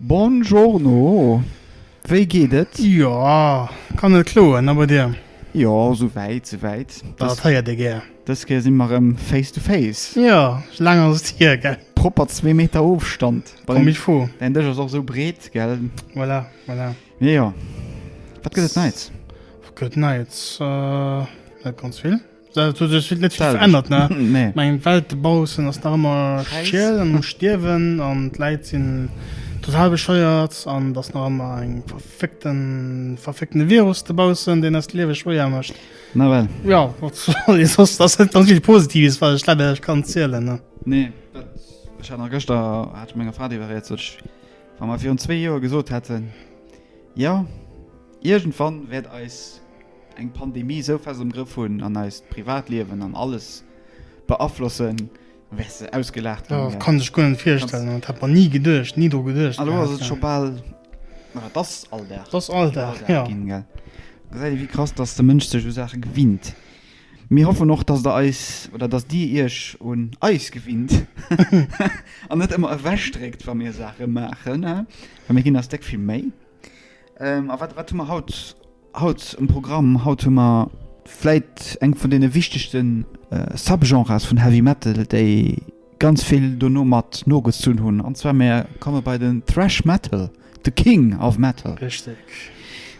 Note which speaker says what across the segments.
Speaker 1: Bonjourno,
Speaker 2: wéi geet et? Jo,
Speaker 1: kann net kloen, a bei dir? Jo, sou wäit,
Speaker 2: sou wäit. Dat héiert
Speaker 1: ee gär. Dës Kéier si mer erëm
Speaker 2: face to face. Jo, laang ass
Speaker 1: et hier, gell? Propper zwee Meter
Speaker 2: Ofstand. Comme il faut.
Speaker 1: Däin Dësch ass och sou breet,
Speaker 2: gell? Voilà, voilà.
Speaker 1: Jo,
Speaker 2: wat gëtt et Neits? Wat gëtt et Neits?
Speaker 1: Net ganz vill. Dat huet sech net vill verännert, ne? Nee. Mä eng Welt
Speaker 2: dobaussen
Speaker 1: ass nach ëmmer Gräis. schiel an um Stierwen an d'Läit sinn total bescheuert an et ass nach ëmmer eng verfickten, verfickten Virus dobaussen, deen eis d'Liewe schwéier mécht. Nawell. Jo,
Speaker 2: wat soll
Speaker 1: ee soss? Ass net ganz vill Positives, wat ech leider iech kann zielen, ne? Nee, dat,
Speaker 2: ech hat nach gëschter, hat ech menger Fra driwwer gereet, sot ech, wa mer virun zwee Joer gesot hätten, jo, iergendwann wäert eis. eng Pandemie esou fest am Grëff hunn an eist Privatliewen an alles beaflossen, wäers de ausgelaacht ginn. Dat kann sech guer net
Speaker 1: virstellen, dat hätt mer ni geduecht, ni dru geduecht. Elo ass et
Speaker 2: scho bal, ma dat ass Alldag. Dat ass Alldag, jo.
Speaker 1: Ginn, gell. Da gesäit
Speaker 2: ee wéi krass, dass de Mënsch sech u Saache gewinnt. Mir hoffen och, dass der eis, oder dass dir iech un eis gewinnt an net ëmmer ewech dréckt, wa mir Saache maachen, well mir ginn eis déck vill Méi. A wat, wat hu mer haut? Haut um Programm, haut hu mer vläit eng vun deene wichtegste Subgenres vun Heavy Metal, déi ganz vill dono mat nogezunn hunn, an zwar mir komme bei den Thrash Metal, the King of Metal. Richteg.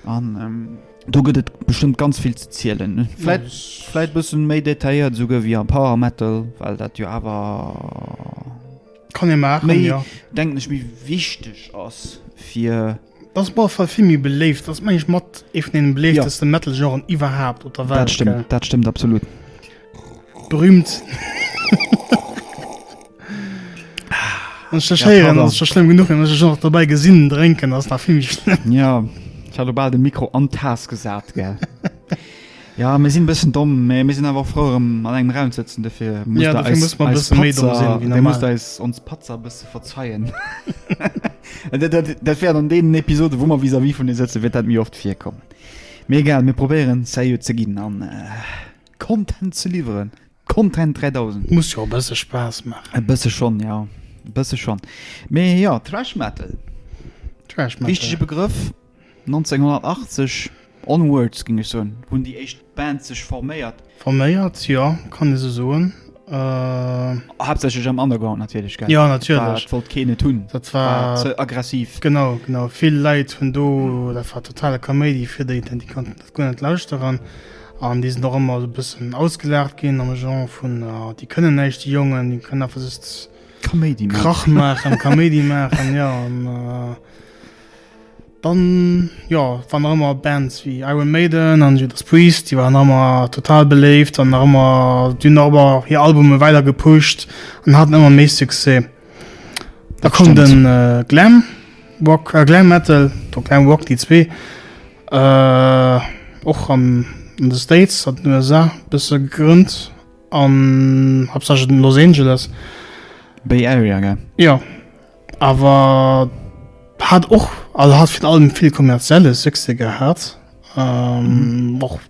Speaker 1: An
Speaker 2: do gëtt et bestëmmt ganz vill ze zielen, vläit vläit e bësse méi detailléiert esouguer wéi am Power Metal, well dat jo awer,
Speaker 1: kann ee maachen, jo, denken ech, méi
Speaker 2: wichteg ass fir. Ass bei Fall
Speaker 1: vill méi beléift, ass mengen ech mat ee vun deene beléiftesten ja. Metal Genren iwwerhaapt op der Welt. Dat stëmmt, dat stëmmt absolut. Berühmt. Scheieren ja, ass schlimm genug nach dabei gesinn drenken ass nach vill schlimm. Ja ich
Speaker 2: hat bal de Mikro an Tas gesat ge. Jo mir sinn e bëssen domm, mä mir sinn awer och frou erëm an engem Raum ze sëtzen, dofir
Speaker 1: musst der eis eis ons Patzer e
Speaker 2: bësse verzeien. Dat wäert an deenen Episode wou mer vis-à-vis vun e sëtze wäert dat méi oft virkommen. Mee egal, mir probéieren seriö ze ginn an Content ze liwweren. Content 3000. Muss jo e bësse Spaass
Speaker 1: maachen. E bësse schonn,
Speaker 2: jo e bësse schonn. Mee jo, Thrash Metal, wichtege Begrëff. 1980, onwards géing ech soen, hunn déi éischt Bands sech forméiert. Forméiert, jo,
Speaker 1: kann ee sou soen.
Speaker 2: Haaptsächlech am Underground natierlech, gell? Jo, natierlech. Et wollt
Speaker 1: keen et hunn, dat
Speaker 2: war ze
Speaker 1: aggressiv.
Speaker 2: Genau, genau. Vill
Speaker 1: Leit hunn do, dat war totale Kaméidi fir déi, déi konnten dat guer net lauschteren. An déi sinn och ëmmer e bëssen ausgelaacht ginn am Genre vun, ah, déi kënnen näischt, déi Jongen, déi kënnen einfach just Kaméidi maachen. Krach
Speaker 2: maachen, Kaméidi
Speaker 1: maachen, jo. Dann jo wann nach ëmmer Bands wéi Iron Maiden an Judas Priest, déi waren ëmmer total beléift an nach ëmmer, déi hunn och ëmmer hir Albume weider gepusht an haten ëmmer méi Succès. Da koum de Glam Rock, Glam Metal, do Glam Rock, déi zwee och an de States, an den USA bësse gegrënnt an haaptsächlech an Los Angeles. Bay
Speaker 2: Area, gell? Jo.
Speaker 1: Awer hat och also hat fir allem vill kommerzielle Succès gehat. Ähm, och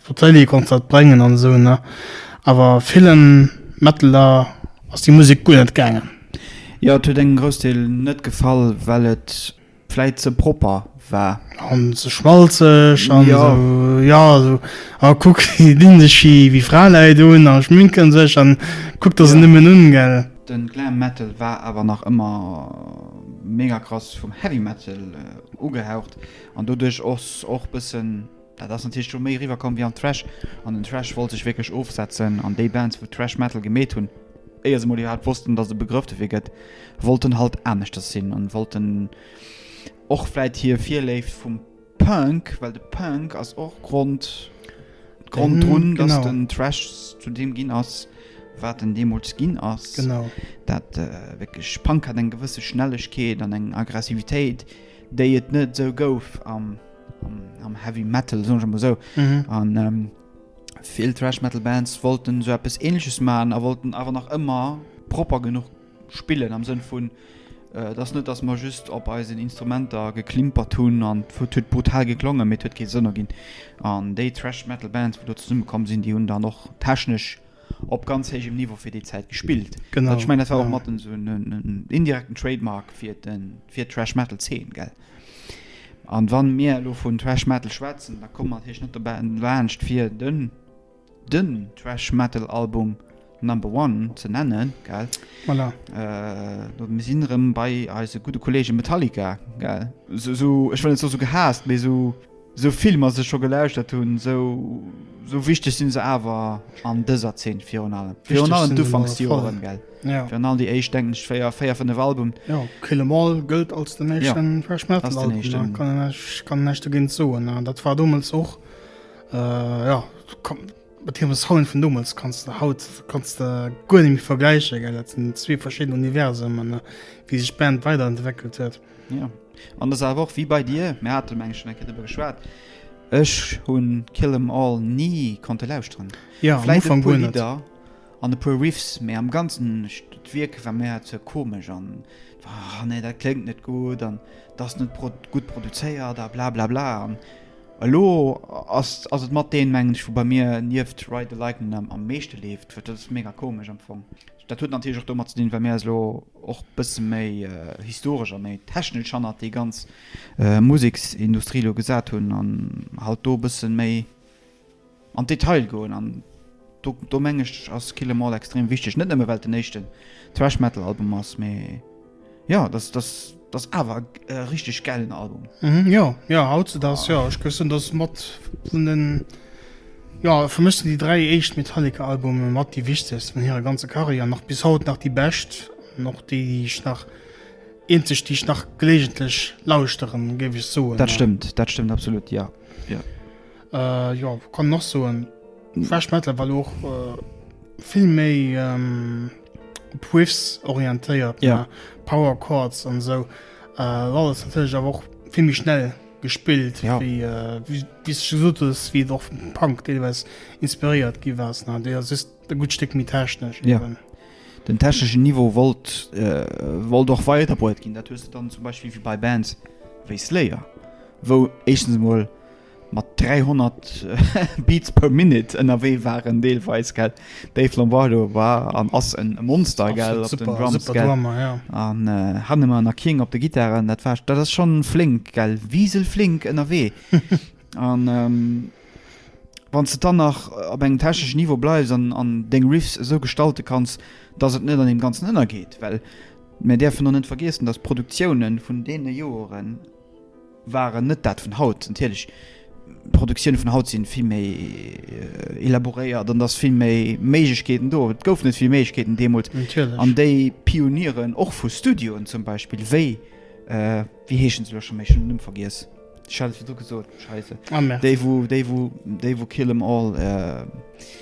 Speaker 1: wat Télé konnt dat bréngen an esou ne. Awer villen Metaler ass déi Musek guer net gaangen. Jo, et huet
Speaker 2: engem Groussdeel net gefall, well et. vläit ze propper war. An ze
Speaker 1: schmalzeg an ja. So, ja
Speaker 2: so,
Speaker 1: a ah, kuck dinn sech hi wéi Fraläit un a schminken sech an kuck dat ja. se nëmmen un gell. Den Glam Metal
Speaker 2: war awer nach ëmmer mega krass vum Heavy Metal äh, ugehaucht an doduerch ass och bëssen Dat ass natierlech do méi eriwwer komm wéi an Thrash, an den Thrash wollt sech wierklech ofsetzen an déi Bands wou Thrash Metal gemeet hunn, éier se emol iwwerhaapt wossten dass et e Begrëff dofir gëtt, wollten halt aneschters sinn an wollten och vläit hir Virléift vum Punk, well de Punk ass och Grond Grond drun dass den Thrash zu deem ginn ass wat en deemools ginn ass, dat wierklech Punk hat eng gewësse Schnellegkeet an eng Aggressivitéit déi et net esou gouf am, am, am Heavy Metal, soen ech emol esou. Mhm. An ähm, vill Thrash Metal Bands wollten esou eppes Ähnleches machen, a wollten awer nach ëmmer propper genuch spillen, am Sënn vun, äh, dass net, dass mer just op eisen Instrumenter geklimpert hunn an et huet brutal geklongen, mee et huet kee Sënn erginn. An déi Thrash Metal Bands, wou do zesummekomm sinn, déi hunn dann och technesch, op ganz héijem Niveau fir déi Zäit gespillt. Genau. Ech mengen dat war och
Speaker 1: matten esou
Speaker 2: en indirekten Trademark fir den fir d'Thrash Metal Zeen gell. An wann mir elo vun Thrash Metal schwätzen, da kommen mer natierlech net dobäi laanscht fir den den Thrash Metal Album Number One ze nennen gell. Voilà.
Speaker 1: Äh,
Speaker 2: mir sinn erëm bei eise gudde Kollege Metallica gell. Esou, ech wëll net soe esou gehaasst, mee esou. Sou Filmer se scho gelauschtert hunn, sou wichteg sinn se awer an dëser Zeen. Virun allem virun allem d'Ufanksjoren,
Speaker 1: gell?
Speaker 2: Jo. Virun
Speaker 1: allem déi
Speaker 2: éischt,
Speaker 1: denken ech,
Speaker 2: véier, véier, fënnef Albumen. Jo, Kill 'Em All
Speaker 1: gëllt als den éischten Thrash Metal Album. Ass den éischten. Kann een
Speaker 2: näischt, ech kann
Speaker 1: näischt dogéint soen. Dat war domols och, jo, kann, mat hirem Sound vun domols kanns de haut, kanns de guer net méi vergläichen, gell? Dat sinn zwee verschidden Universemen, wéi sech d'Band weiderentwéckelt huet. Ja. An
Speaker 2: dëser Woch, wéi bei dir, mir hate meng ech schonn eng Kéier driwwer geschwat, ech hu Kill 'Em All ni konnte lauschteren. Ja, am Ufank guer net. Vläicht e puer
Speaker 1: Lidder an e
Speaker 2: puer Riffs, mee am Ganzen, d'Wierk war mir ze komesch an war, ah nee, dat kléngt net gutt an et ass net gutt produzéiert a blablabla. An elo ass ass et mat deen, mengen ech, wou bei mir nieft Ride the Lightnin' am meeschte leeft, wat, dat ass mega komesch am Fong. Dat huet natierlech och domat ze dinn, well mir eis elo och e bësse méi historesch a méi technesch hannert déi ganz Museksindustrie elo gesat hunn an halt do e bësse méi an d'Detail goen. An do, do meng ech, ass Kill 'Em All extrem wichteg. Net nëmme well et den éischten Thrash Metal Album ass, mee. Ja das das das awer e äh, richteg gäilen Album. Mhm, ja, ja, haut
Speaker 1: se das, ja. Ech gëssen das mat vun den ja, für mich sind die drei echt Metallica-Albume mat die wichtigsten von ihrer ganzen Karriere nach bis haut nach die best noch die, die ich nach einzig die ich nach gelegentlich lauschteren gebe ich so das stimmt das stimmt
Speaker 2: absolut ja ja äh,
Speaker 1: ja kann noch so ein Fresh Metal weil auch äh, viel méi ähm, Whiffs orientéiert ja. Power
Speaker 2: Chords
Speaker 1: an so äh, alles natürlich aber auch viel mich schnell gespielt ja. wie, äh,
Speaker 2: wie, wie
Speaker 1: gesagt ist, wie doch vom Punk teilweise inspiriert gewesen hat der ist ein gut Stück mit technisch ja. Eben.
Speaker 2: den
Speaker 1: technischen
Speaker 2: Niveau wollt äh, wollt doch weiter gehen dann zum Beispiel wie bei Bands wie Slayer wo echtens mal mat 300 Beats per Minute ënnerwee waren deelweis gell. Dave Lombardo war an ass e Monster gell op den Drums gell an
Speaker 1: hannen ëmmer
Speaker 2: nach King op de Gittaren dat war dat ass schonn flénk gell, wiselflénk ënnerwee an wann s de dann nach op engem techneschen Niveau bleifs an deng Riffs esou gestalte kanns, dass et net an deem Ganzen ënnergeet. Well mir däerfen och net vergiessen, dass d'Produktiounen vun deene Joeren, waren net dat vun haut. Natierlech, d'Produktioune vun haut si vill méi elaboréiert an et ass vill méi Méiglechkeeten do. Et goufen net vill Méiglechkeeten deemools. Natierlech. An déi Pionieren och vu Studioen zum Beispill, wéi, wéi heeschen se elo schonn méi? Ech hunn den Numm vergiess. Ech hat et virdru gesot, Scheiße. Ah, merde. Déi, wou,
Speaker 1: déi, wou, déi,
Speaker 2: wou Kill 'Em All.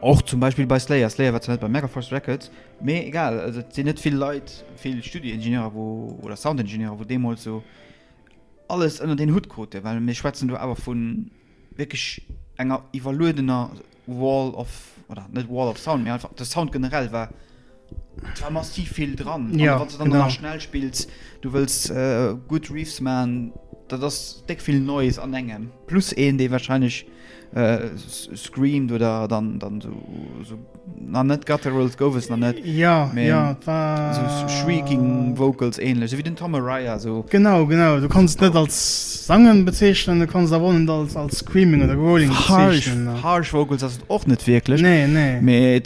Speaker 2: Och zum Beispill bei Slayer, Slayer war zwar net bei Megaforce Records, mee egal, also et sinn net vill Leit, vill Studioingenieurer, wou, oder Soundingenieurer, wou deemools esou alles ënnert een Hutt kruten, well mir schwätzen do awer vu wierklech enger iwwerluedener Wall of, oder net Wall of Sound, mee einfach de Sound generell war Da massiv vill dran ja wat dann nach schnell
Speaker 1: spills
Speaker 2: du wëst gutt Reefs man da das deck vill neues an engem plus een dee wahrscheinlich äh, screamt oder dann dann so, so na net gutturals gouf es na net ja Me, ja
Speaker 1: war
Speaker 2: so
Speaker 1: shrieking
Speaker 2: vocals ähnlich so wie den Tom Araya so genau genau du kannst
Speaker 1: net als sangen bezeichnen du kannst da wollen als als screaming oder rolling harsh, harsh vocals das
Speaker 2: och net wirklich nee nee Me,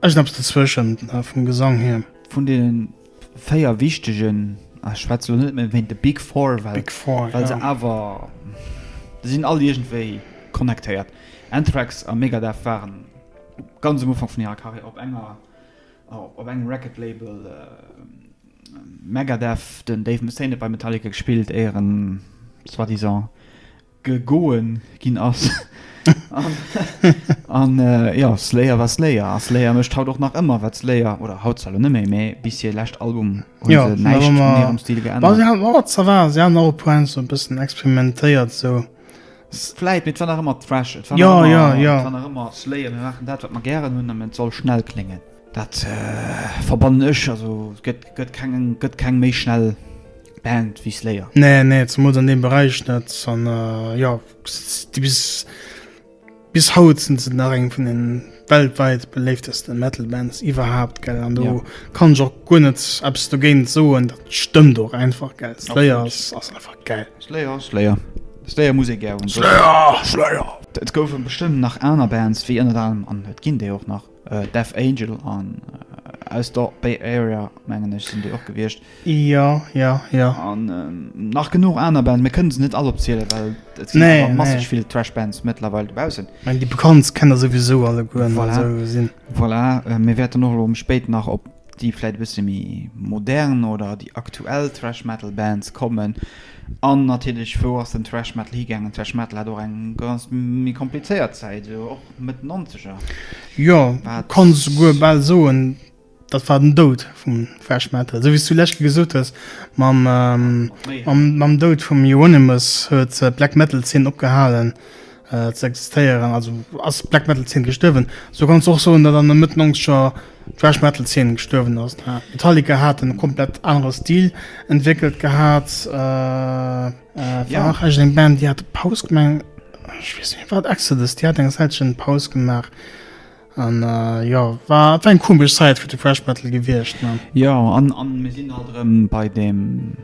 Speaker 1: Ech sinn eppes dozwëschen vum Gesang hier. Vun
Speaker 2: deenen véier wichtegen, a ech schwätze lo net méi wéint de Big Four, well Big Four, well se jo. awer, se sinn all iergendwéi connectéiert. Anthrax a Megadeth waren ganz um Ufank vun hirer Karriär op enger, op engem Record Label. Megadeth, den Dave Mustaine huet bei Metallica gespillt, éier en soi-disant, gegoen gin ass an jo Slayer war Slayer a Slayer mecht haut och nach ëmmer wat Slayer oder haut zwar lo neméi mee bis hier lescht Album hun se
Speaker 1: näischt vun
Speaker 2: hirem Stil geännert.
Speaker 1: Ça va se haten och e puer Enzo e bëssen experimentéiert sou. Vläit
Speaker 2: mee et war nach ëmmer Thrash et war nach ëmmer jo jo et war
Speaker 1: nach ëmmer Slayer
Speaker 2: mir maachen dat wat mer gären hunn a et soll schnell kléngen dat verbannen ech also gëtt gëtt keng gëtt keng méi schnell Band wéi Slayer. Nee, nee, zemools an deem
Speaker 1: Beräich net. An jo, déi bis, bis haut sinn se nach eng vun de weltwäit beléiftesten Metal Bands iwwerhaapt, gell. An do ja. kann ech och guer net eppes dogéint soen, dat stëmmt och einfach, gell. Slayer ass einfach gäil. Slayer, Slayer.
Speaker 2: Slayer muss ee gär hunn. Slayer, Slayer! Et goufe bestëmmt nach aner Bands wéi ënnert anerem, an et ginn déi och nach, Death Angel an aus der Bay Area mengen ech sinn déi och gewiescht. Jo, jo,
Speaker 1: jo. An
Speaker 2: ähm, nach genuch aner Bands, mir kënnen se net all opziele well et sinn nee, awer masseg nee. vill Trashbands mëttlerweil dobaussen. Meng déi bekannt kennt der
Speaker 1: souwisou alle guer voilà. so sinn.
Speaker 2: Voilà, äh, mir wäerten och lo um spéit nach op déi vläit e bësse méi modern oder déi aktuell Trash Metal Bands kommen. An natierlech wou ass den Trash Metal higaangen? Trash Metal hat och eng ganz méi komplizéiert Zäit. Mëtt Nonzeger. Jo,
Speaker 1: kanns souguer bal soen, dat war den Doud vum Thrash Metal. Esou wéi s du lech gesot hues mam, mam Doud vum Euronymous huet d'Black Metal Zeen opgehalen ze existéieren. Also ass d'Black Metal Zeen gestuerwen. Esou kanns du och soen, datt an der Mëtt Nonzeger d'Thrash Metal Zeen gestuerwen ass. Metallica hat en komplett anere Stil entwéckelt gehat. War ja. och eng Band déi hat de Paus gemeng wat Exodus Di hat eng Säitchen Paus gemaach. An äh, ja war eng komesch Säit fir de Freshbattle gewiecht. Ne? Ja an,
Speaker 2: an mir sinn alt rëm bei dem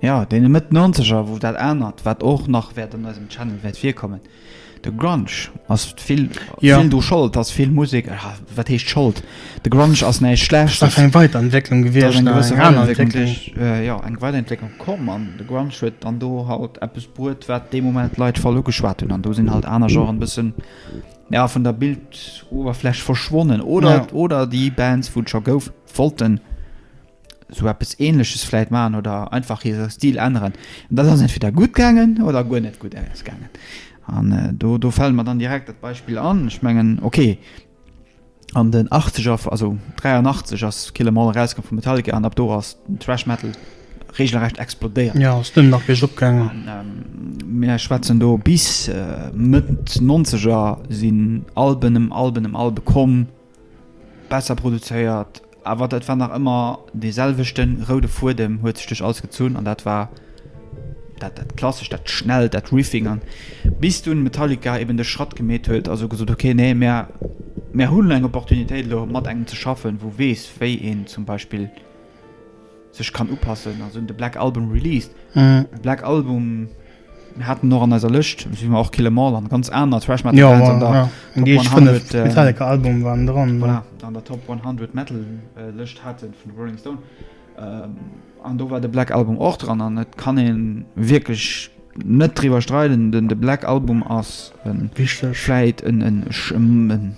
Speaker 2: ja dee Mëtt 90er, wou dat anert, wat och nach wäert an eisem Channel wäert virkommen. De Grunge ass vill, Ja. vill do Schold, ass vill Musek, ah, wat heescht Schold? De Grunge ass näischt Ass einfach Schlechtes. eng Weiderentwécklung
Speaker 1: Da ass gewiescht, eng nach gewësse eng aner Weiderentwécklung
Speaker 2: Entwécklung. duerch, äh, jo, eng Weiderentwécklung komm an de Grunge huet dann do halt eppes bruet, wat dee Moment d'Leit voll ugeschwat hunn an do sinn halt aner Genren e bëssen, ja, vun der Bildoberfläch verschwonnen oder, Ja. oder déi Bands, wou et scho gouf, wollten. sou eppes ähnleches vläit maachen oder einfach hire Stil änneren. An dat ass entweder gutt gaangen oder guer net gutt ausgaangen. An do, do fält mer dann direkt dat Beispill an, ech mengen, okay, an den Achtzeger, also 83 ass Kill 'Em All erauskomm vu Metallica an ab do ass den Thrash Metal regelrecht explodéiert. Jo, ass duerno nach biergop
Speaker 1: gaangen. Mir
Speaker 2: schwätzen do bis Mëtt Nonzeger sinn Alben ëm Alben ëm Albe komm. besser produzéiert, awer et war nach ëmmer dee selwechten roude Fuedem huet sech duerch alles gezunn an dat war dat dat Klassescht, dat Schnellt, dat Riffing an bis dunn Metallica eben de Schratt gemeet huet a sou gesot, ok nee mär mär hunn eng Opportunitéit elo mat engem ze schaffen wou weess wéi een zum Beispill sech kann upassen also de black album released black album hatten noch an eiser löscht wie man auch kille mall an ganz aner trash man
Speaker 1: ja album waren dran voilà. an der top
Speaker 2: 100 metal äh, löscht hatte von rolling stone ähm, an do war de black album auch dran an net kann en wirklich net drüber streiten den de black album ass wichtigfleit en en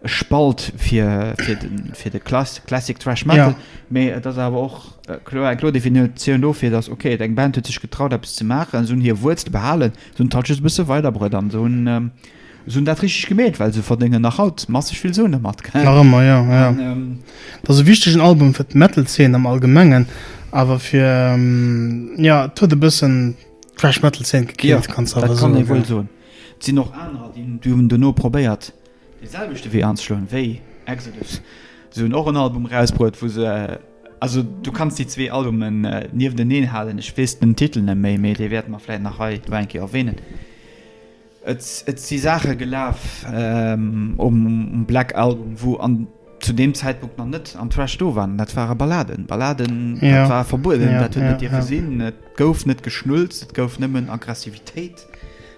Speaker 2: e Spalt fir, fir de, fir de Klass, Classic Thrash Metal, ja. mee et ass awer och äh, kloer eng kloer Definitioun dofir, dass okay, et eng Band huet sech getraut eppes ze maachen, se hunn hir Wuerzele behalen, se hunn d'Touches e bësse weiderbrëtt an se hunn ähm, se hunn dat richteg gemeet, well se verdéngen nach haut masseg vill Suen domat. Nach ëmmer, ja. ja. An, ähm,
Speaker 1: dat ass e wichtegen Album fir d'Metal-Zeen am Allgemengen, awer fir ähm, ja, et huet e bëssen d'Thrash Metal-Zeen gekillt, ja, kannst du awer soen. Dat kann ee wuel soen.
Speaker 2: Et sinn och anerer, déi hunn duerno probéiert, dee selwechte Wee anzeschloen wéi Exodus. Se hunn och en Album erausbruet wou se, also du kanns déi zwee Albumen niefteneen halen, ech weess den Titel net méi, mee dee wäerte mer vläit nach hei elo eng Kéier erwähnen. Et et si Saache gelaf um Black Album wou an zu deem Zäitpunkt nach net am Thrash do waren, dat ware Balladen. Balladen, dat war verbueden, dat huet net dierfe sinn, et gouf net geschnulzt, et gouf nëmmen Aggressivitéit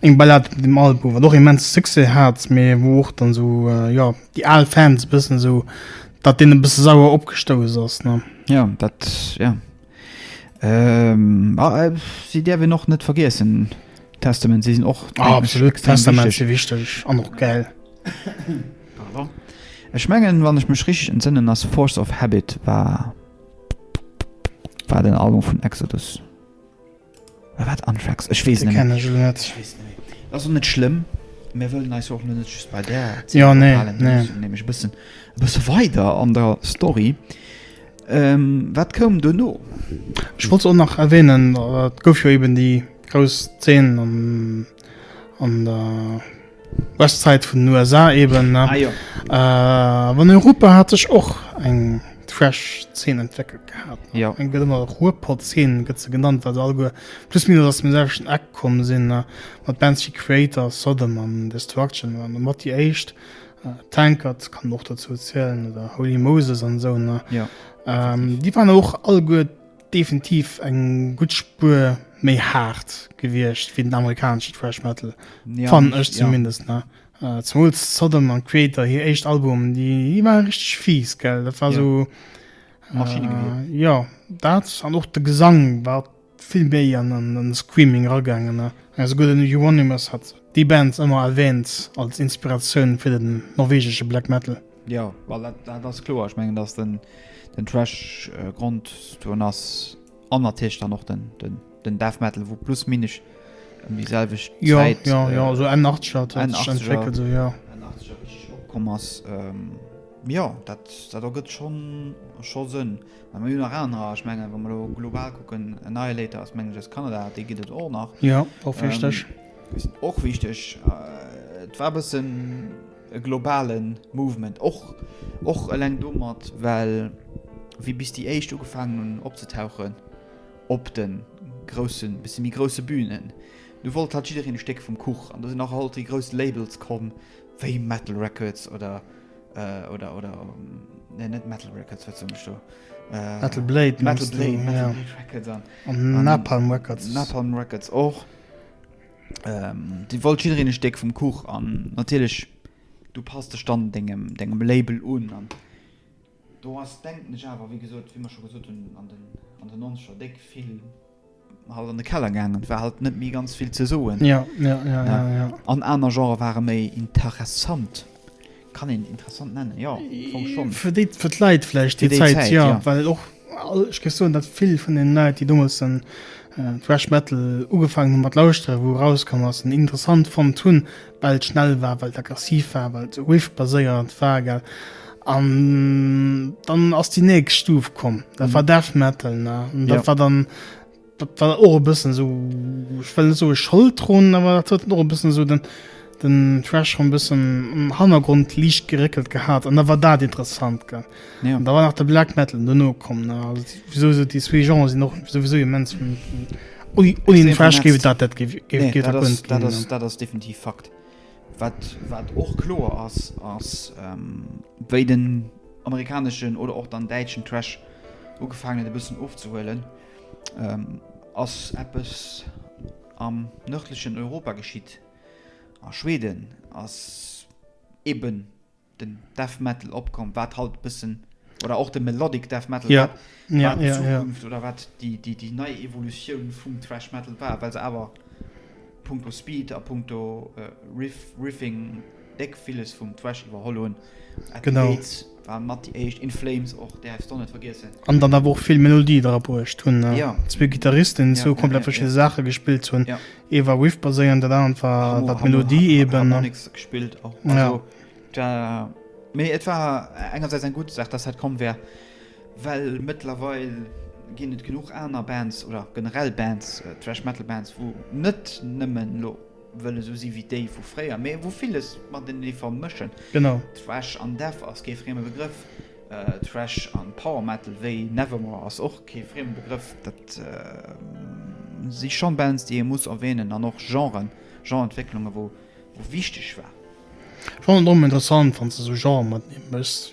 Speaker 1: Eng Ballade mat engem Album wat och immense Succès hat, mee wou och dann esou jo déi al Fans e bëssen esou dat deenen e bësse sauer opgestouss ass ne. Jo dat
Speaker 2: jo. A si däerf een och net vergiessen Testament, si sinn och absolut Testament
Speaker 1: si wichteg an och gäil. Pardon.
Speaker 2: Ech mengen wann ech mech richteg entsënnen ass Force of Habit war war den Album vun Exodus. Oder wat Anthrax? Ech weess net méi. Ech weess net méi. Dat ass och net schlëmm. Mir wëllen eis och net just bei där Zeen ophalen. Jo, nee, nee.
Speaker 1: Nämlech e bëssen,
Speaker 2: e bësse weider an der Story. Wat koum duerno? Ech wollt och
Speaker 1: nach erwähnen, et gouf jo eben déi grouss Zeen am. An der Westside vun den USA eben, ne? Ah, jo. Äh, an Europa hat sech och eng Trash-Zeen entwéckelt gehat. Jo. Eng gëtt ëmmer
Speaker 2: Ruhrpott-Zeen
Speaker 1: gëtt se genannt, well se alleguer plus minus aus dem selwechten Eck komm sinn, ne? Mat Bands wéi Kreator, Sodom an Destruction waren domat déi éischt. Tankard kann een och dozou zielen oder Holy Moses an esou, ne? Jo.
Speaker 2: Déi waren
Speaker 1: och alleguer. Definitiv eng gutt Spuer méi haart gewiescht wéi den amerikanesche Thrash Metal, fannen ech zumindest. Zemools Sodom an Kreator, hir éischt Albumen, déi ware richteg fies. Dat war esou Maschinnegewieer. Jo, dat an och de Gesang war vill méi an den Screaming eragaangen. Esouguer den Euronymous hat déi Band ëmmer erwäänt als Inspiratioun fir den norwegesche Black Metal. Jo,
Speaker 2: dat ass kloer. Ech mengen, datt den Thrash-Grond dran ass an natierlech dann och den Death Metal, wou plus minus ëm déi selwecht Zäit opkomm ass. Jo, dat ergëtt scho Sënn. Mä mir hunn nach anerer. Ech mengen, wa mer elo global kucken, Annihilator ass, mengen ech, aus Kanada. Déi gëtt et och nach. Jo, och wichteg.
Speaker 1: Déi sinn och wichteg.
Speaker 2: Et war e bëssen. e globale Movement, och och eleng domat, well wéi bis déi éischt ugefaangen hunn opzetauchen op de grousse bësse méi grousse Bünen, du wollt halt jiddereen e Stéck vum Kuch an do sinn och alt déi grouss Labels komm wéi Metal Records oder oder oder nee net Metal Records, wat soen ech do?
Speaker 1: Metal Blade mengst du? Metal Blade Records
Speaker 2: an Napalm Records. Napalm Records och. Dir wollt jiddereen e Stéck vum Kuch an natierlech du passt dech dann dengem dengem Label un. An do ass denken ech awer wéi gesot, wéi mer scho gesot hunn an den an den nonzeger déck vill halt an de Keller gaangen. Et war halt net méi ganz vill ze soen.
Speaker 1: An
Speaker 2: aner Genrë ware méi interessant. Kann een interessant nennen, jo, am Fong schon. Fir déi, fir d'Leit
Speaker 1: vläicht, déi Zäit, jo, well och, ech géif soen, datt vill vun deenen Leit, déi deemools den Thrash Metal ugefaangen hunn mat lauschteren, wou erauskomm ass, en interessant fonnt hunn, well et schnell war, well et aggressiv war, well et sou Riff-baséiert war, gell. An dann ass déi nächst Stuf komm, dat war Death Metal, ne? An dat war dann. Dat war och e bëssen sou, ech wëll net soe Schold drun, awer dat huet och e bëssen sou den, den Trash schon e bëssen am Hannergrond liicht geréckelt gehat an da war dat interessant gell. Ja. An da war nach de Black Metal duerno komm, ne? Also wieso se déi zwee Genren sinn och sowieso immens un un un den Trash géif et dat net géif géif Nee, géif dat dat ass, net dat ginn, ass, ne? dat
Speaker 2: ass definitiv Fakt. Wat, wat och kloer ass, ass, ähm, wéi den amerikaneschen oder och dann däitschen Trash ugefaangen huet e bëssen ofzehuelen, Ass eppes am nërdlechen Europa geschitt? A Schweden ass eben den Death Metal opkomm, wat haut e bëssen, oder och de Melodic Death Metal, wat d'Zukunft oder wat déi nei Evolutioun vum Thrash Metal war, well se awer. Punkto Speed a Punkto Riff, Riffing déck villes vum Thrash iwwerholl hunn. At the Gates
Speaker 1: war mat déi
Speaker 2: éischt, In Flames och, däerfs d'o net vergiessen. An dann awer och vill
Speaker 1: Melodie dra bruecht hunn. Zwee Gittaristen,
Speaker 2: déi
Speaker 1: zwou komplett verschidde Saache gespillt hunn. Ee war Riff baséierend, dat anert war d'Melodie eeben. Harmonics gespillt och.
Speaker 2: Mee et war engersäits eng gutt Saach, dass dat komm war. Well mëttlerweil ginn et genuch aner Bands oder generell Bands, Thrash Metal Bands, wou net nëmmen elo wëlle sou si wéi déi vu fréier, mee wou villes matenee vermëschen. Genau.
Speaker 1: Thrash
Speaker 2: an Death ass kee frieme Begrëff, Thrash an Power Metal wéi Nevermore ass och kee frieme Begrëff. Dat si schonn Bands, déi ee muss erwähnen an och Genren, Genre-Entwécklungen, wou wichteg war. Ech fannen et och ëmmer
Speaker 1: interessant, wann s de sou Genre matenee mëschs.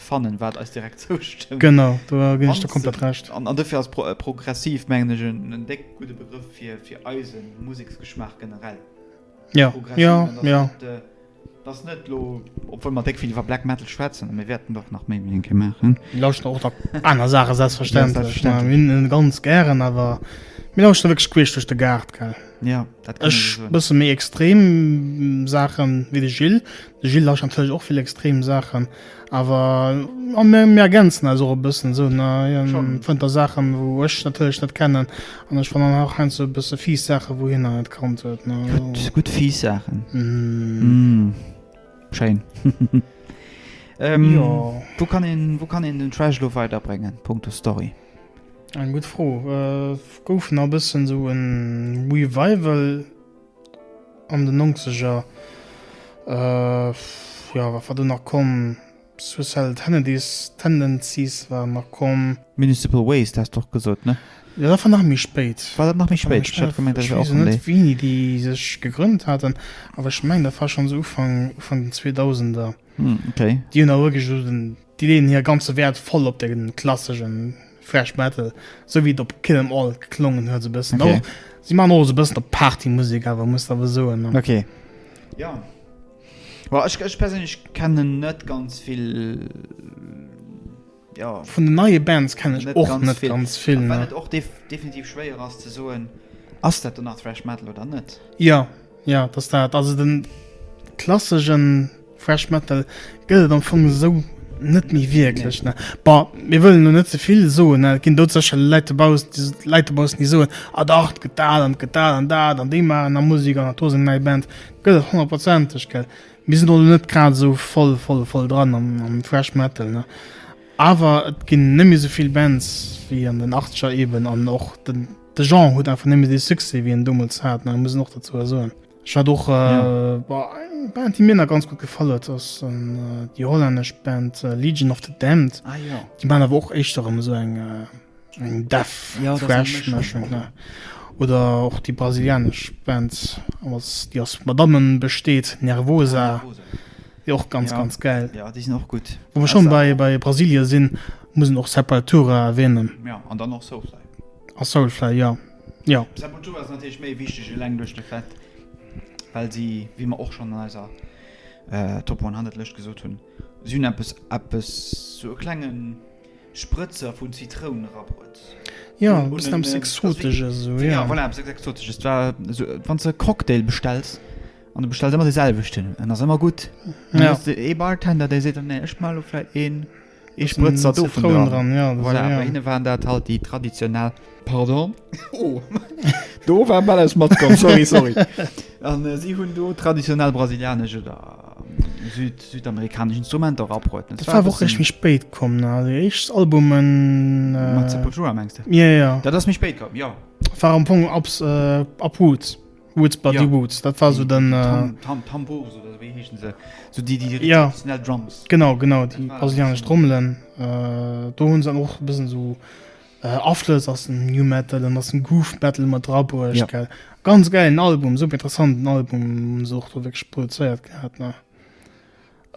Speaker 2: fannen wat eis direkt zoustëmmt. Genau, do ginn
Speaker 1: ech der komplett Recht. An
Speaker 2: dofir
Speaker 1: ass
Speaker 2: progressiv mengen ech en déck gudde Begrëff fir eise Museksgeschmaach generell. Jo,
Speaker 1: jo, jo. Et
Speaker 2: ass net elo, obwuel mer déck vill iwwer Black Metal schwätzen, a mir wäerten och nach méi wéi eng Kéier maachen. Mir lauschteren och nach
Speaker 1: aner Saache selbstverständlech. Mir hunn e
Speaker 2: ganz gären,
Speaker 1: awer mir lauschteren wierklech queesch duerch de Gaart, gell. Ja, dat kann Ech
Speaker 2: so bësse méi extrem
Speaker 1: mm, Saachen wéi de Gilles. De Gilles lauscht natierlech och vill extrem Saachen, awer a mir mir ergänzen eis och e bëssen esou, ne? Hien Schon. fënnt da Saachen,
Speaker 2: wou
Speaker 1: ech natierlech net kennen an ech fannen och heiansdo e bësse fies Saachen, wou hien nach net kannt huet, ne? Also, Gutt, gutt fies Saachen.
Speaker 2: mm,
Speaker 1: Mm. Schéin.
Speaker 2: ähm,
Speaker 1: ja.
Speaker 2: Wou kann een, wou kann een den Trash lo weiderbréngen, punkto Story? Eng gutt Fro.
Speaker 1: Et gouf nach e bëssen esou e Revival an den Nongzeger. Jo, wat war do nach komm? Suicidal Tenedies, Tendencies war nach komm. Municipal Waste has
Speaker 2: de och gesot, ne? Jo, dat war nach méi
Speaker 1: spéit. War dat nach méi spéit? Ech hat
Speaker 2: gemengt, dat wier och vun déi. Ech weess net, wéini
Speaker 1: déi sech gegrënnt haten, awer ech mengen, dat war schonns Ufank, Ufank den Zweedausender. Hm, ok. Déi
Speaker 2: hunn awer wierklech esou den.
Speaker 1: Déi leeën hire ganze Wäert voll op de klassesche Thrash Metal, esou wéi et op Kill 'Em All geklongen huet. Esou e bëssen och. Si maachen och esou
Speaker 2: e
Speaker 1: bëssen op Partymusek awer, muss awer soen. Okay.
Speaker 2: Jo. Bon, ech, ech perséinlech kennen net ganz vill, jo. Vun den neie
Speaker 1: Bands kennen ech och net ganz vill, ne. Well
Speaker 2: et och definitiv schwéier ass ze soen, ass dat dann nach Thrash Metal oder net? Jo. Jo
Speaker 1: et ass dat. Also den klassegen Thrash Metal gëtt et am Fong esou net méi wierklech ne. Bon mir wëllen elo net zevill soen ne, et ginn dout sécherlech Läit dobaussen déi Läit dobaussen déi soen, ah dach et gëtt dat an et gëtt dat an dat an déi maachen nach Musek an et do sinn nei Bands. Gëtt et honnertprozenteg gell. Mir sinn do elo net grad esou voll voll voll dran am am Thrash Metal ne. Awer et ginn net méi esouvill Bands wéi an den Achtzeger eeben an och den De Jean huet einfach nëmme dee Succès wéi en domols hat, mä muss een och dozou soen. Ech hat och eng Band déi mir nach ganz gutt gefall huet, ass déi hollännesch Band Legion of the Damned. Déi man awer och
Speaker 2: éischter
Speaker 1: erëm esou eng eng Death Thrash
Speaker 2: Mëschung ne
Speaker 1: oder och déi brasilianesch Band aus déi aus Madammen besteet, Nervosa, déi och ganz ganz gäil. Jo déi sinn och gutt.
Speaker 2: Wa mer schonn bei
Speaker 1: Brasilie
Speaker 2: sinn,
Speaker 1: muss een och Sepultura erwänen. Jo an dann och Soulfly.
Speaker 2: A Soulfly,
Speaker 1: jo. Jo. Sepultura ass
Speaker 2: natierlech méi wichteg, eleng duerch de Fait, well si, wéi mer och schonn an eiser Top 100 Lëscht gesot hunn, si hunn eppes, eppes, sou e klenge Sprëtzer vu Zitroun era bruet. Jo,
Speaker 1: e bëssen eppes
Speaker 2: Exotesches esou,
Speaker 1: jo. Jo, voilà, eppes Exotesches.
Speaker 2: Et
Speaker 1: war
Speaker 2: esou, wann s de e Cocktail bestells an du bestells ëmmer de selwechten, en ass ëmmer gutt, an da hues de ee
Speaker 1: Bartender,
Speaker 2: dee seet dann, Nee, ech maache elo vläicht een. Ee Sprëtzer dovun
Speaker 1: dran.
Speaker 2: Voilà,
Speaker 1: bei hinne waren dat halt déi
Speaker 2: traditionell. Pardon. Oh, do war bal eppes matkomm, sorry, sorry. An si hunn do traditionell brasilianesch oder südamerikanesch Instrumenter erapproden. Dat war awer och eréischt méi spéit
Speaker 1: komm, ne? Also déi éischt Albumen. Mat Sepultura mengs
Speaker 2: de? Jo, jo. Dat ass méi spéit
Speaker 1: komm,
Speaker 2: jo. War am Fong Ups,
Speaker 1: Uproots. Woods Buddy ja. Woods dat war so den äh, Tam Tambos
Speaker 2: oder wéi heechen se so déi déi ja. Drums
Speaker 1: genau
Speaker 2: genau déi
Speaker 1: brasilianesch Drommelen äh, do hunn se och bëssen so äh, Aflëss ass den New Metal an ass den Groove Metal mat Drabuerg ja. gell ganz
Speaker 2: geilen
Speaker 1: Album super interessanten Album so wéi gesproduzéiert gehabt ne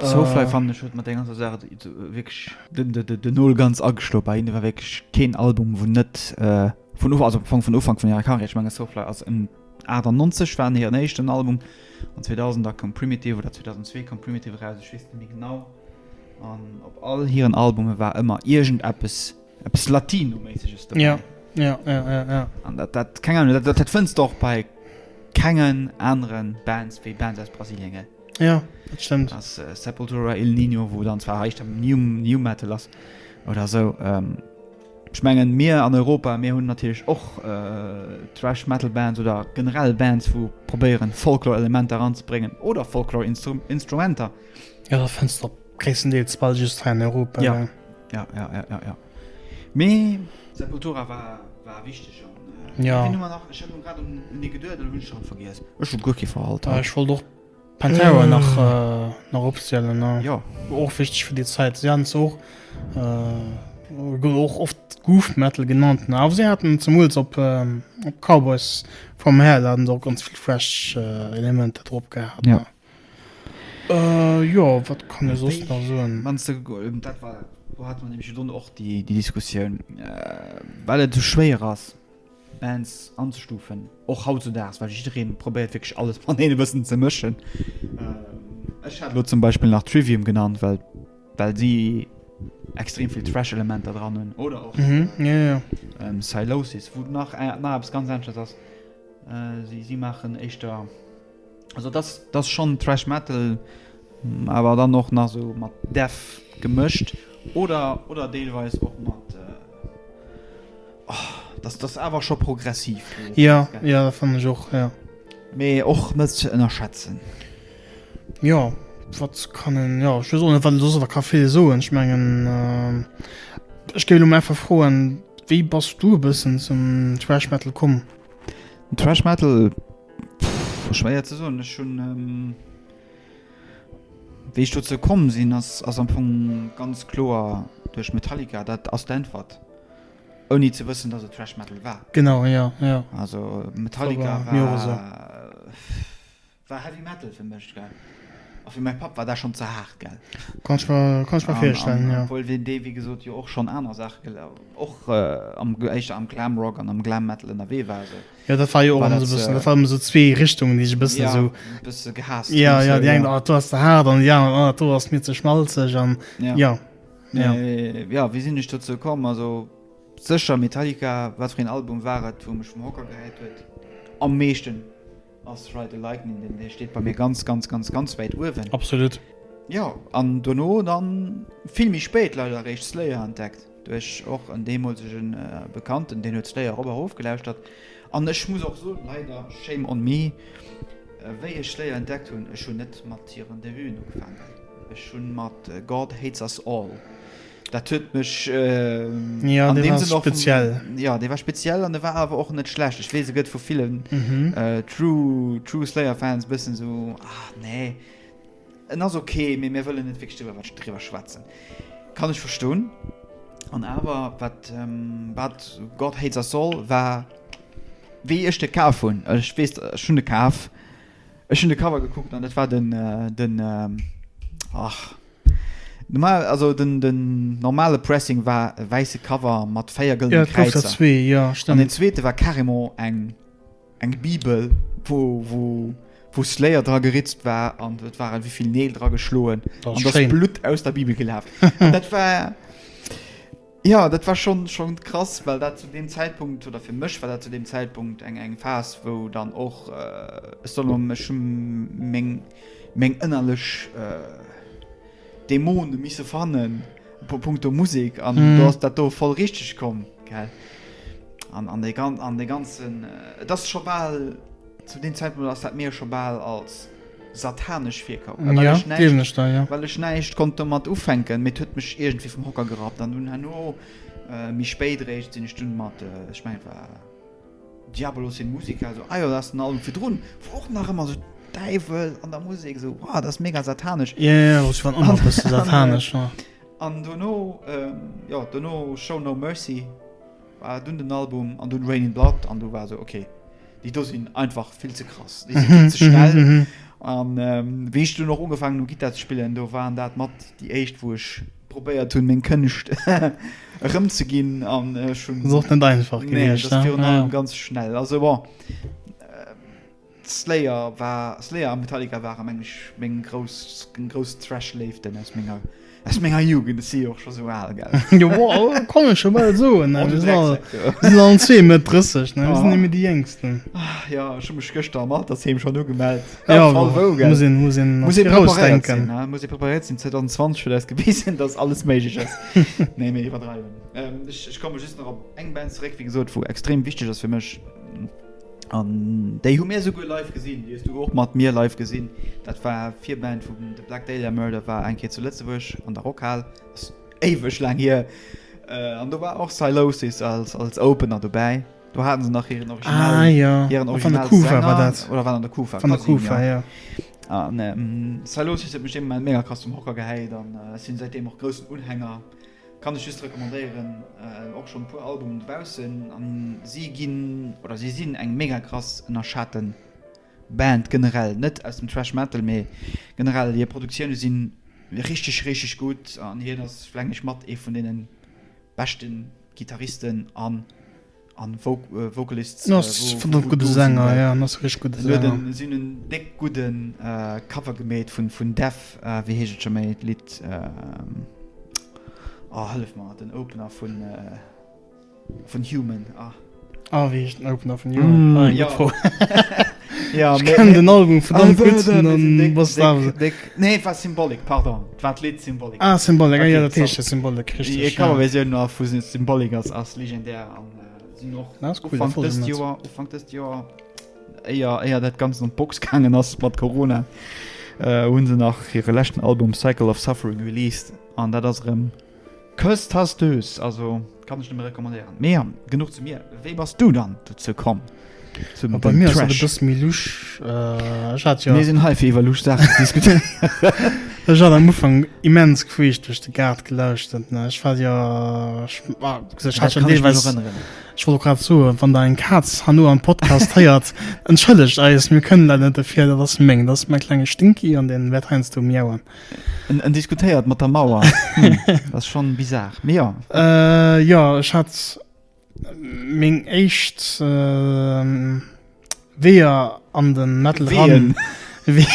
Speaker 2: Soulfly fannen ech huet mat der ganzer Saach wierklech den Nol ganz ageschloe bei hinnen. Et war wierklech keen Album, wou net vun Ufank, also am Fong vun Ufank vun hirer Karriär, ech mengen Soulfly ass en 98 war hiren éischten Album an 2000 da koum Primitive oder 2002 koum Primitive eraus, ech weess net méi genau. An op all hiren Albume war ëmmer iergendeppes, eppes Latino-méisseges dobäi.
Speaker 1: An dat, dat,
Speaker 2: keng Ahnung, dat fënns de och bei kengen anere Bands, wéi Bands aus Brasilien, gell. Ja, dat stëmmt.
Speaker 1: Ass äh, Sepultura
Speaker 2: Il Nino, wo dann zwar heicht am New, New Metal ass oder so. Ähm, ich mengen mir an Europa mir hunn natürlich och äh, Trash Metal Bands oder generell Bands wo probéieren Folklore Elementer anzubringen oder Folklore Instru Instrumenter. Ja, da fënns
Speaker 1: du op gréisstendeels ball just hei an Europa. Ja. Ja. Ja, ja,
Speaker 2: ja, ja, ja. Mee Sepultura war war wichteg an äh, Ja. wen hu mer
Speaker 1: nach ech hat nun grad un
Speaker 2: un dee geduet oder hunn ech schon vergiess ech hun guer kee verhalt Äh, ech wollt och
Speaker 1: Pantera Äh. nach, äh, nach opzielen. Ne? jo War och wichteg
Speaker 2: fir déi
Speaker 1: Zäit. Si haten zwar och, äh, gouf och oft Goof Metal genannt, ne? awer si haten zemools op, ähm, op Cowboys from Hell haten se och ganz vill thrash, äh, Elementer drop gehat. Ja. Jo, wat kann ee soss nach soen? Wanns de, dat war,
Speaker 2: do hate mer nämlech jo dunn och déi Diskussioun, well et esou schwéier ass Bands anzestufen, och hautzudaags, well jidderee probéiert wierklech alles matenee e bëssen ze mëschen. Ech hat elo zum Beispill nach Trivium genannt, well well si extrem vill Thrash-Elementer dran hunn, oder
Speaker 1: och Sylosis,
Speaker 2: wou nach nach eppes ganz aneschters ass. Si maachen éischter. Also das das schon Trash Metal, awer dann och nach so mat Death gemëscht oder oder deelweis och mat äh, oh, das das awer scho progressiv. Ja ja
Speaker 1: fan ech och ja. Mee och
Speaker 2: net ze ënnerschätzen.
Speaker 1: Ja wat kann en ja ech weess och net wat en soss awer ka vill soen. Ech mengen äh, ech géif elo mol einfach froen, wéi bass du e bëssen zum Trash Metal komm? Den Trash
Speaker 2: Metal? Schwéier ze soen. Ech hunn, wéi ech dozou komm sinn, ass ass am Fong ganz kloer duerch Metallica. Dat ass d'Äntwert, ouni ze wëssen, datt et Thrash Metal war. Genau, jo, jo.
Speaker 1: Also
Speaker 2: Metallica war war Heavy Metal fir mech, gell. A fir mäi Papp war dat schonn ze haart, gell. Kann ech mer,
Speaker 1: kann ech mer virstellen, jo. Obwuel deen, dee wéi gesot jo
Speaker 2: och schonn aner Saache gel, och am, éischter am Glam Rock an am Glam Metal ënnerwee war, esou. Jo dat war jo och alles
Speaker 1: e bëssen, dat waren esou zwee Richtungen déi sech e bëssen esou, ja, e bësse
Speaker 2: gehasst
Speaker 1: hunn,
Speaker 2: jo jo déi eng, ah do
Speaker 1: ass ze haart an déi aner, ah do ass mir ze schmalzeg an jo. Mee
Speaker 2: jo wéi sinn ech dozou komm, also sécher Metallica, wat fir een Album war et wou mech vum Hocker gehäit huet am meeschten, ass Ride the Lightning, deen dee steet bei mir ganz ganz ganz ganz wäit uewen. Absolut.
Speaker 1: Jo an
Speaker 2: dono dann vill méi spéit leider eréischt Slayer entdeckt. Duerch och en deemolsege Bekannten, deen huet se léier op a rof gelauschtert. An ech muss och soen, leider, shame on me, wéi ech léier entdeckt hunn, ech hunn net mat hiren Debuten ugefaangen, ech hunn mat God Hates Us All. Dat huet mech an
Speaker 1: deem Sënn och. Jo, dee war speziell
Speaker 2: an e war awer och net schlecht. Ech weess, e gëtt vu villen True Slayer-Fans e bëssen esou, ah, nee. En ass ok, mee mir wëllen net wierklech driwwer driwwer schwätzen. Kann ech verstoen. An awer wat wat God Hates Us All war wéi ech de kaf hunn, ech weess ech hunn de kaf, ech hunn de Cover gekuckt an dat war den den ach normal also den den normale Pressing war e wäisse Cover mat véier gëllene Kräizer. Jo et gouf der zwee, jo stémmt. An den
Speaker 1: zweete war
Speaker 2: carrément eng. Eng Bibel, wou Slayer dra geritzt war an et waren wéivill Neel dra geschloen an et ass Blutt aus der Bibel gelaf. Dat war, jo, dat war schonn krass, well dat zu deem Zäitpunkt, oder fir mech war dat zu deem Zäitpunkt eng Phas, wou dann och, ech soll elo, ech hu meng ënnerlech Dämone misse fannen, punkto Musek. An do ass dat do voll richteg komm. An dee ganzen, et ass scho bal, zu deem Zäitpunkt ass dat mir scho bal als satanesch virkomm. Well ech näischt, deelen ech da, ja. Well ech näischt konnt domat ufänken, mee et huet mech iergendwéi vum Hocker gerappt. An dunn herno, méi spéit eréischt, sinn ech dunn mat, ech mengen et war Diabolos in Musica, esou, ah jo, dat ass den Album virdrun, wou och nach ëmmer esou Däiwel an der Musek, esou, wow, dat ass mega satanesch. Jo, jo, jo, ass jo an allem
Speaker 1: e bësse satanesch, jo. An dono,
Speaker 2: jo, dono Show No Mercy war dunn den Album an dunn Raining Blood an du war esou, okay, déi do sinn einfach vill ze krass, déi si vill ze schnell. An wéi ech dunn och ugefaangen hu Gittar ze spillen, do waren dat mat déi éischt, wou ech probéiert hunn, meng Kënscht erëmzeginn. An ech hunn. Ass och net einfach gewiescht,
Speaker 1: ne? Nee, et ass virun allem ganz
Speaker 2: schnell. Also bon. Slayer war, Slayer a Metallica ware meng ech meng grouss, meng grouss Thrash-Léiften aus menger, aus menger Jugend. Ech si jo och scho sou al, gell? Jo,
Speaker 1: kann ech jo bal soen, ne? Oh, du Drecksäck, du! Mir sinn allen zwee Mëtt 30, ne? Mir sinn nemme déi Jéngsten. Jo, ech hu mech
Speaker 2: gëschter am Altersheem schonn ugemellt. Jo, muss een, muss een un d'Grouss
Speaker 1: denken. Muss een preparéiert
Speaker 2: sinn, ne? Muss ee preparéiert sinn. 2020 huet eis gewisen, datt alles méiglech ass. Nee, mir iwwerdreiwen. Ech, ech komme just nach op eng Band zeréck, wéi gesot, wou extrem wichteg ass fir mech. An déi hu mir souguer live gesinn. Déi hues du och mat mir live gesinn. Dat war d'Virband vu The Black Dahlia Murder, war eng Kéier zu Lëtzebuerg an der Rockhal. Dat ass éiweg laang hier. An do war och Sylosis als Opener dobäi. Do hate se nach hiren
Speaker 1: Original. Sylosis
Speaker 2: huet mech deemools mega krass zum Hocker gehéit an sinn säitdeem och groussen Unhänger. Kann ech just recommandéieren, och schon puer Albumen dobaussen an si ginn oder si sinn eng mega krass ënnerschaten Band generell, net aus dem Thrash Metal mee generell hier Produktiounen sinn richteg richteg gutt an hien ass flengg ech mat ee vun deenen beschten Gitarristen an an vocalists vun den
Speaker 1: gudde Sänger jo en ass e richteg gudde Sänger an si hunn en déck
Speaker 2: gudden Cover gemeet vun vun Def wéi heescht et scho méi d'Lidd oh hëllef mer den Opener vun vun Human ah ah wéi heescht
Speaker 1: den Opener vun Human ah jo
Speaker 2: Ja, ech kenne den
Speaker 1: Album verdammt gutt. Nee, war
Speaker 2: Symbolik, pardon. War d'Lidd Symbolik. Ah, Symbolik, ah, ja, dat heescht
Speaker 1: jo Symbolik, richtig. Déi Coverversioun no vu
Speaker 2: Symbolik ass, ass legendär an sinn och Ufank dëst Joer, Ufank dëst Joer, éier, éier dat Ganzt an d'Box gaangen ass mat Corona, hunn se nach hire leschten Album Cycle of Suffering released an dat ass erëm. Kësst has dues, also kann ech nëmme recommandéieren. Mee ja, genuch zu mir, wéi bass du dann dozou komm zum Dënn Trash? Bei
Speaker 1: mir ass dat e bësse méi lusch. Ech hat jo.
Speaker 2: Mir sinn hei fir iwwer lusch Saachen ze diskutéieren.
Speaker 1: Ech hat am Ufank immens queesch duerch de Gaart gelauschtert, ne. Ech war jo, ech hat jo deelweis, ech wollt och grad soen, wann der eng Kaz herno am Podcast héiert, entschëllegt eis, mir kënnen leider net derfir, dat ass meng, dat ass mäi klenge Stinky an dee wäert heiansdo miauen. En diskutéiert
Speaker 2: mat der Mauer. Dat ass schonn bizar, mee jo. Jo,
Speaker 1: ech hat meng éischt Weeër an de Metal eran. Ween?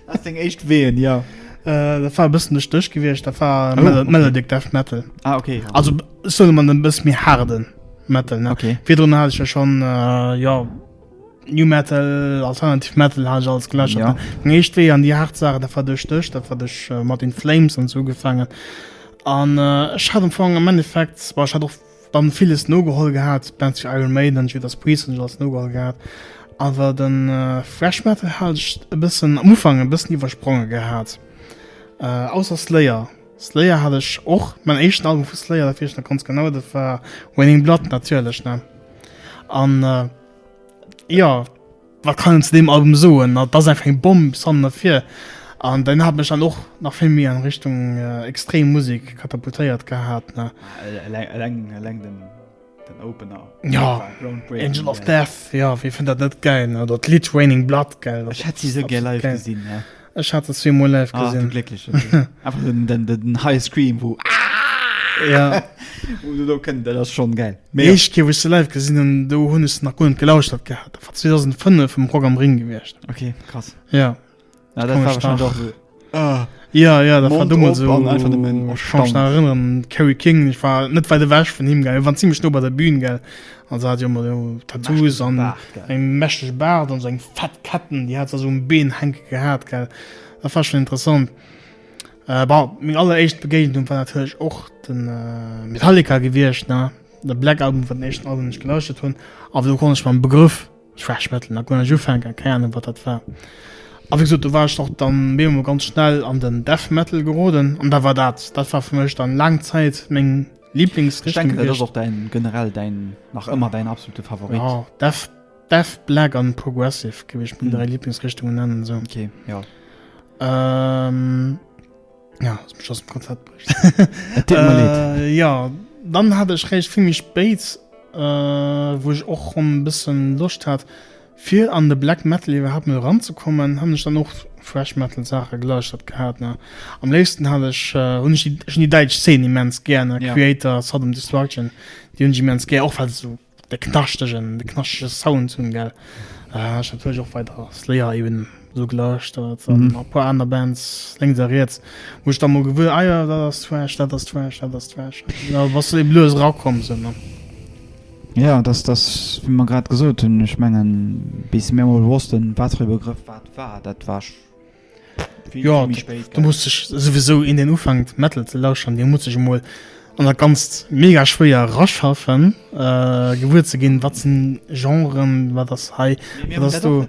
Speaker 1: Wat
Speaker 2: seng éischt Ween, jo. Dat war e
Speaker 1: bëssen duerch d'Désch gewiescht, dat war Melodic Death Metal. Ah, ok. Also,
Speaker 2: ech soen
Speaker 1: emol e bësse méi haarde Metal, ne? Ok. Virdrun hat ech jo schonn, jo. New Metal, Alternative Metal ha ech alles gelächert. Ja. Meng éischt Wee an
Speaker 2: déi haart
Speaker 1: Sachen, dat war duerch dech, dat war duerch äh, mat In Flames an so ugefaangen. An äh, ech hat am Fong am Endeffekt, war ech hat och dann villes nogeholl gehat, Bands wie Iron Maiden, Judas Priest hunn ech alles nogeholl gehat. Awer den äh, Thrash Metal hat ech e bëssen am Ufank e bëssen iwwerspronge gehat. Äh, ausser Slayer. Slayer hat ech och, mäin éischten Album vu Slayer, dat weess ech nach ganz genau, dat war Raining Blood natierlech ne. An jo, wat kann een zu deem Album soen, dat ass einfach eng Bomm bis hannen a vir. An den hat mech dann och nach vill méi an Richtung extrem Musek katapultéiert gehat ne. Eleng den.
Speaker 2: Den Opener.
Speaker 1: Jo, Angel of Death, jo, wee fënnt dat net gäil? Oder d'Lidd Raining Blood, gell? Ech hätt si sou gär live
Speaker 2: gesinn. Ech hat se zwee Mol
Speaker 1: live gesinn. Ah, du Glécklechen.
Speaker 2: Einfach den, den, den High Scream, wou. Ja.
Speaker 1: Wou se do
Speaker 2: kënnt, dat ass schonn gäil. Déi éischt Kéier, wou ech se live
Speaker 1: gesinn hunn, do hunn ech se nach guer net gelauschtert gehat. Dat war 2005 um Rock am Ring gewiescht. Okay, krass.
Speaker 2: Ja. Ja,
Speaker 1: dat war
Speaker 2: wahrscheinlich auch so. Ah. Ja, ja,
Speaker 1: dat war dummel so. einfach dem
Speaker 2: Mann erstaunt.
Speaker 1: erinnern Carry King ich war net weit weg von him ge waren ziemlich no bei der Bühne ge also hat immer so Tattoos an eng mächtig Bart an seg fett Ketten die hat so um Been henke gehabt ge da war schon interessant äh, mir alle echt Begegnung war natürlich och den äh, Metallica gewircht na der Black Album von echt alle nicht geleuchtet hun aber du kon ich beim Begriff Thrash Metal, nach gär ech ufänken, keng Ahnung wat dat war. A wéi gesot, do war ech och dann méi emol ganz schnell an den Death Metal geroden an da war dat, dat war fir mech dann laang Zäit meng Lieblingsrichtung gewiescht. Ech denken, dat ass och däin,
Speaker 2: generell däin, nach ëmmer däin absolute Favorit. Jo, Death,
Speaker 1: Death, Black an Progressive géif ech meng dräi Lieblingsrichtungen nennen, esou. Ok, jo. Ja, ass mech ass dem Konzept bricht. Et deet mer leed. Äh, ja, dann hat ech réischt vill méi spéit, äh, wou ech och schon e bëssen Loscht hat, fir an de Black Metal iwwerhaapt mol eranzekommen, han ech dann och Thrash Metal Saache gelauschtert gehat, ne. Am léifsten hat ech, äh, hunn ech déi, ech hunn déi däitsch Szene immens gär, ne, Kreator, Sodom Destruction, déi hunn ech immens gär, och well se esou. De knaschtegen, de knaschtege Sound hunn, gell? Ech hat natierlech och weider Slayer eben esou gelauschtert an a puer aner Bands lénks a riets, wou ech da mol gewuer, ah jo, dat ass Thrash, dat ass Thrash, dat ass Thrash. Da bass de eben lues erakomm sou, ne? Jo,
Speaker 2: dat ass, wéi mer grad gesot hunn, ech mengen, bis mir emol wossten, wat fir e Begrëff wat war, dat war.
Speaker 1: Jo, do muss sech souwisou een, deen ufänkt Metal ze lauschteren, dee muss sech emol an dat Ganzt mega schwéier eraschaffen, gewuer ze ginn, wat sinn Genren, wat ass hei, wat ass do.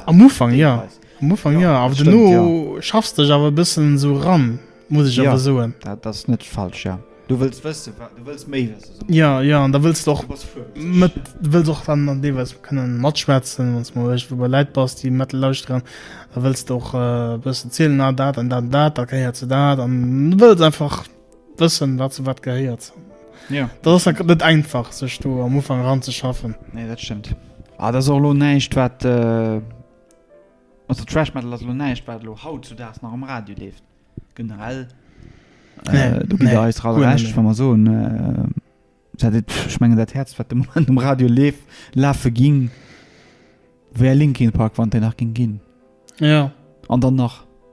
Speaker 1: Am Ufank jo, am Ufank jo, awer duerno schaffs
Speaker 2: de dech
Speaker 1: awer e bëssen esou eran. muss ech awer soen. Ja, dat
Speaker 2: ass
Speaker 1: net falsch,
Speaker 2: ja. Du wëlls wëssen, du wëlls méi wëssen, esou. Ja, ja, an da wëlls du
Speaker 1: och mat,
Speaker 2: du wëlls och
Speaker 1: dann an deelweis kënnen matschwätzen, wann s du mol iergendwou bei Läit bass, déi Metal lauschteren, da wëlls du och e bëssen zielen, ah, dat an dat an dat, da gehéiert zu dat, an du wëlls einfach wëssen, wat zu wat gehéiert. Ja. Dat ass
Speaker 2: dann net
Speaker 1: einfach, sech do am Ufank eranzeschaffen. Nee, dat stëmmt.
Speaker 2: Ah, dat ass och elo näischt, wat. Also Thrash Metal ass elo näischt, wat elo haut zu Daags nach um Radio leeft. Generell, do gitt Der eis all
Speaker 1: Recht, wa mer
Speaker 2: soen, dat et, ech mengen, dat Häerzt, wat de Moment um Radio leeft, lafe ging, wär Linkin Park, wann et déi nach géing ginn.
Speaker 1: An dann nach.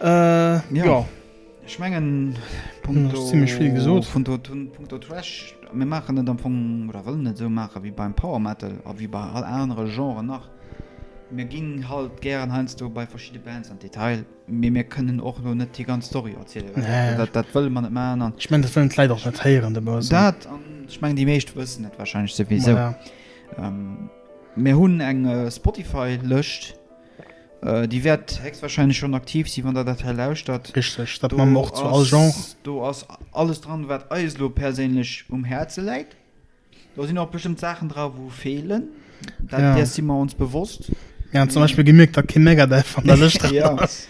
Speaker 1: Äh, ja. ja. Ech mengen ziemlich vill gesot vun do Punkto Trash
Speaker 2: mir machen net am Fong oder wëllen net sou mache wéi beim Power Metal a wéi bei all anere Genre nach. Mir ginn halt gären heiansdo bei verschidde Bands an d'Detail, mee mir kënnen och elo net déi ganz Story erzielen. Nee. Dat, dat wëlle mer
Speaker 1: net man
Speaker 2: an. Ech mengen dat wëllen d'Leit och net
Speaker 1: héieren de Buzz. Dat an ech mengen
Speaker 2: déi meescht wëssen et wahrscheinlech souwisou. Voilà. Ähm, mir hunn eng äh, Spotify-Lëscht. Déi wäert héchstwahrscheinlech schonn aktiv sinn, wann Der dat hei lauschtert. Richteg, dat maache mer och zu
Speaker 1: all Genre. Do ass
Speaker 2: alles dran, wat eis elo perséinlech um Häerze läit. Do sinn och bestëmmt Saachen dra wou feelen, dat deer si
Speaker 1: mer ons bewosst.
Speaker 2: Mir hunn zum Beispill
Speaker 1: gemierkt, datt kee Megadeth an der Lëscht dran ass.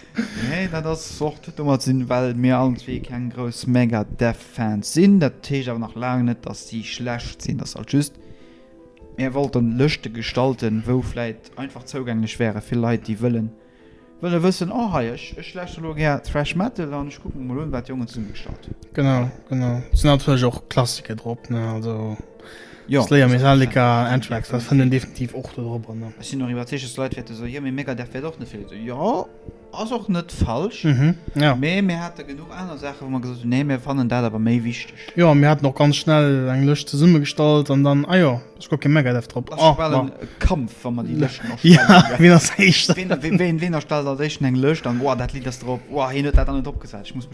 Speaker 1: Nee,
Speaker 2: dat ass och, huet domat ze dinn, well mir allen zwee keng grouss Megadeth-Fans sinn. Dat heescht awer nach laang net, datt si schlecht sinn. Dat ass alt just Mär wollten Lëschte gestalten, wou vläit einfach zougänglech wäre fir Leit, déi wëllen wëllen wëssen, oh hei, ech ech lauschteren elo gär Thrash Metal an ech kucke mer mol un, wat d'Jongen zesummegestallt hunn. Genau, genau.
Speaker 1: Et sinn natierlech och Klassiker drop, ne, also Jo, Slayer,
Speaker 2: also Metallica,
Speaker 1: definitiv, Anthrax, dat fënnt een definitiv. definitiv och do drop an, ne. Ech sinn och iwwerzeegt, dass Leit
Speaker 2: wäerte soen, jo, mee Megadeth wär et och net fir Leit. Jo. Ass och net falsch, mee mir
Speaker 1: hate genuch
Speaker 2: aner Saachen, wou mer gesot hunn, nee, mir fannen dat awer méi wichteg. Jo, mir haten och ganz
Speaker 1: schnell eng Lëscht zesummegestallt an dann, ah jo, ass guer kee Megadev drop. Ass jo bal e Kampf,
Speaker 2: wa mer déi Lëschten erstellen. Jo, wien ass éischt?
Speaker 1: Wien erstellt
Speaker 2: als éischten eng Lëscht an, Uah, dat Lidd ass drop, uah, hien huet dat aner dropgesat, ech muss.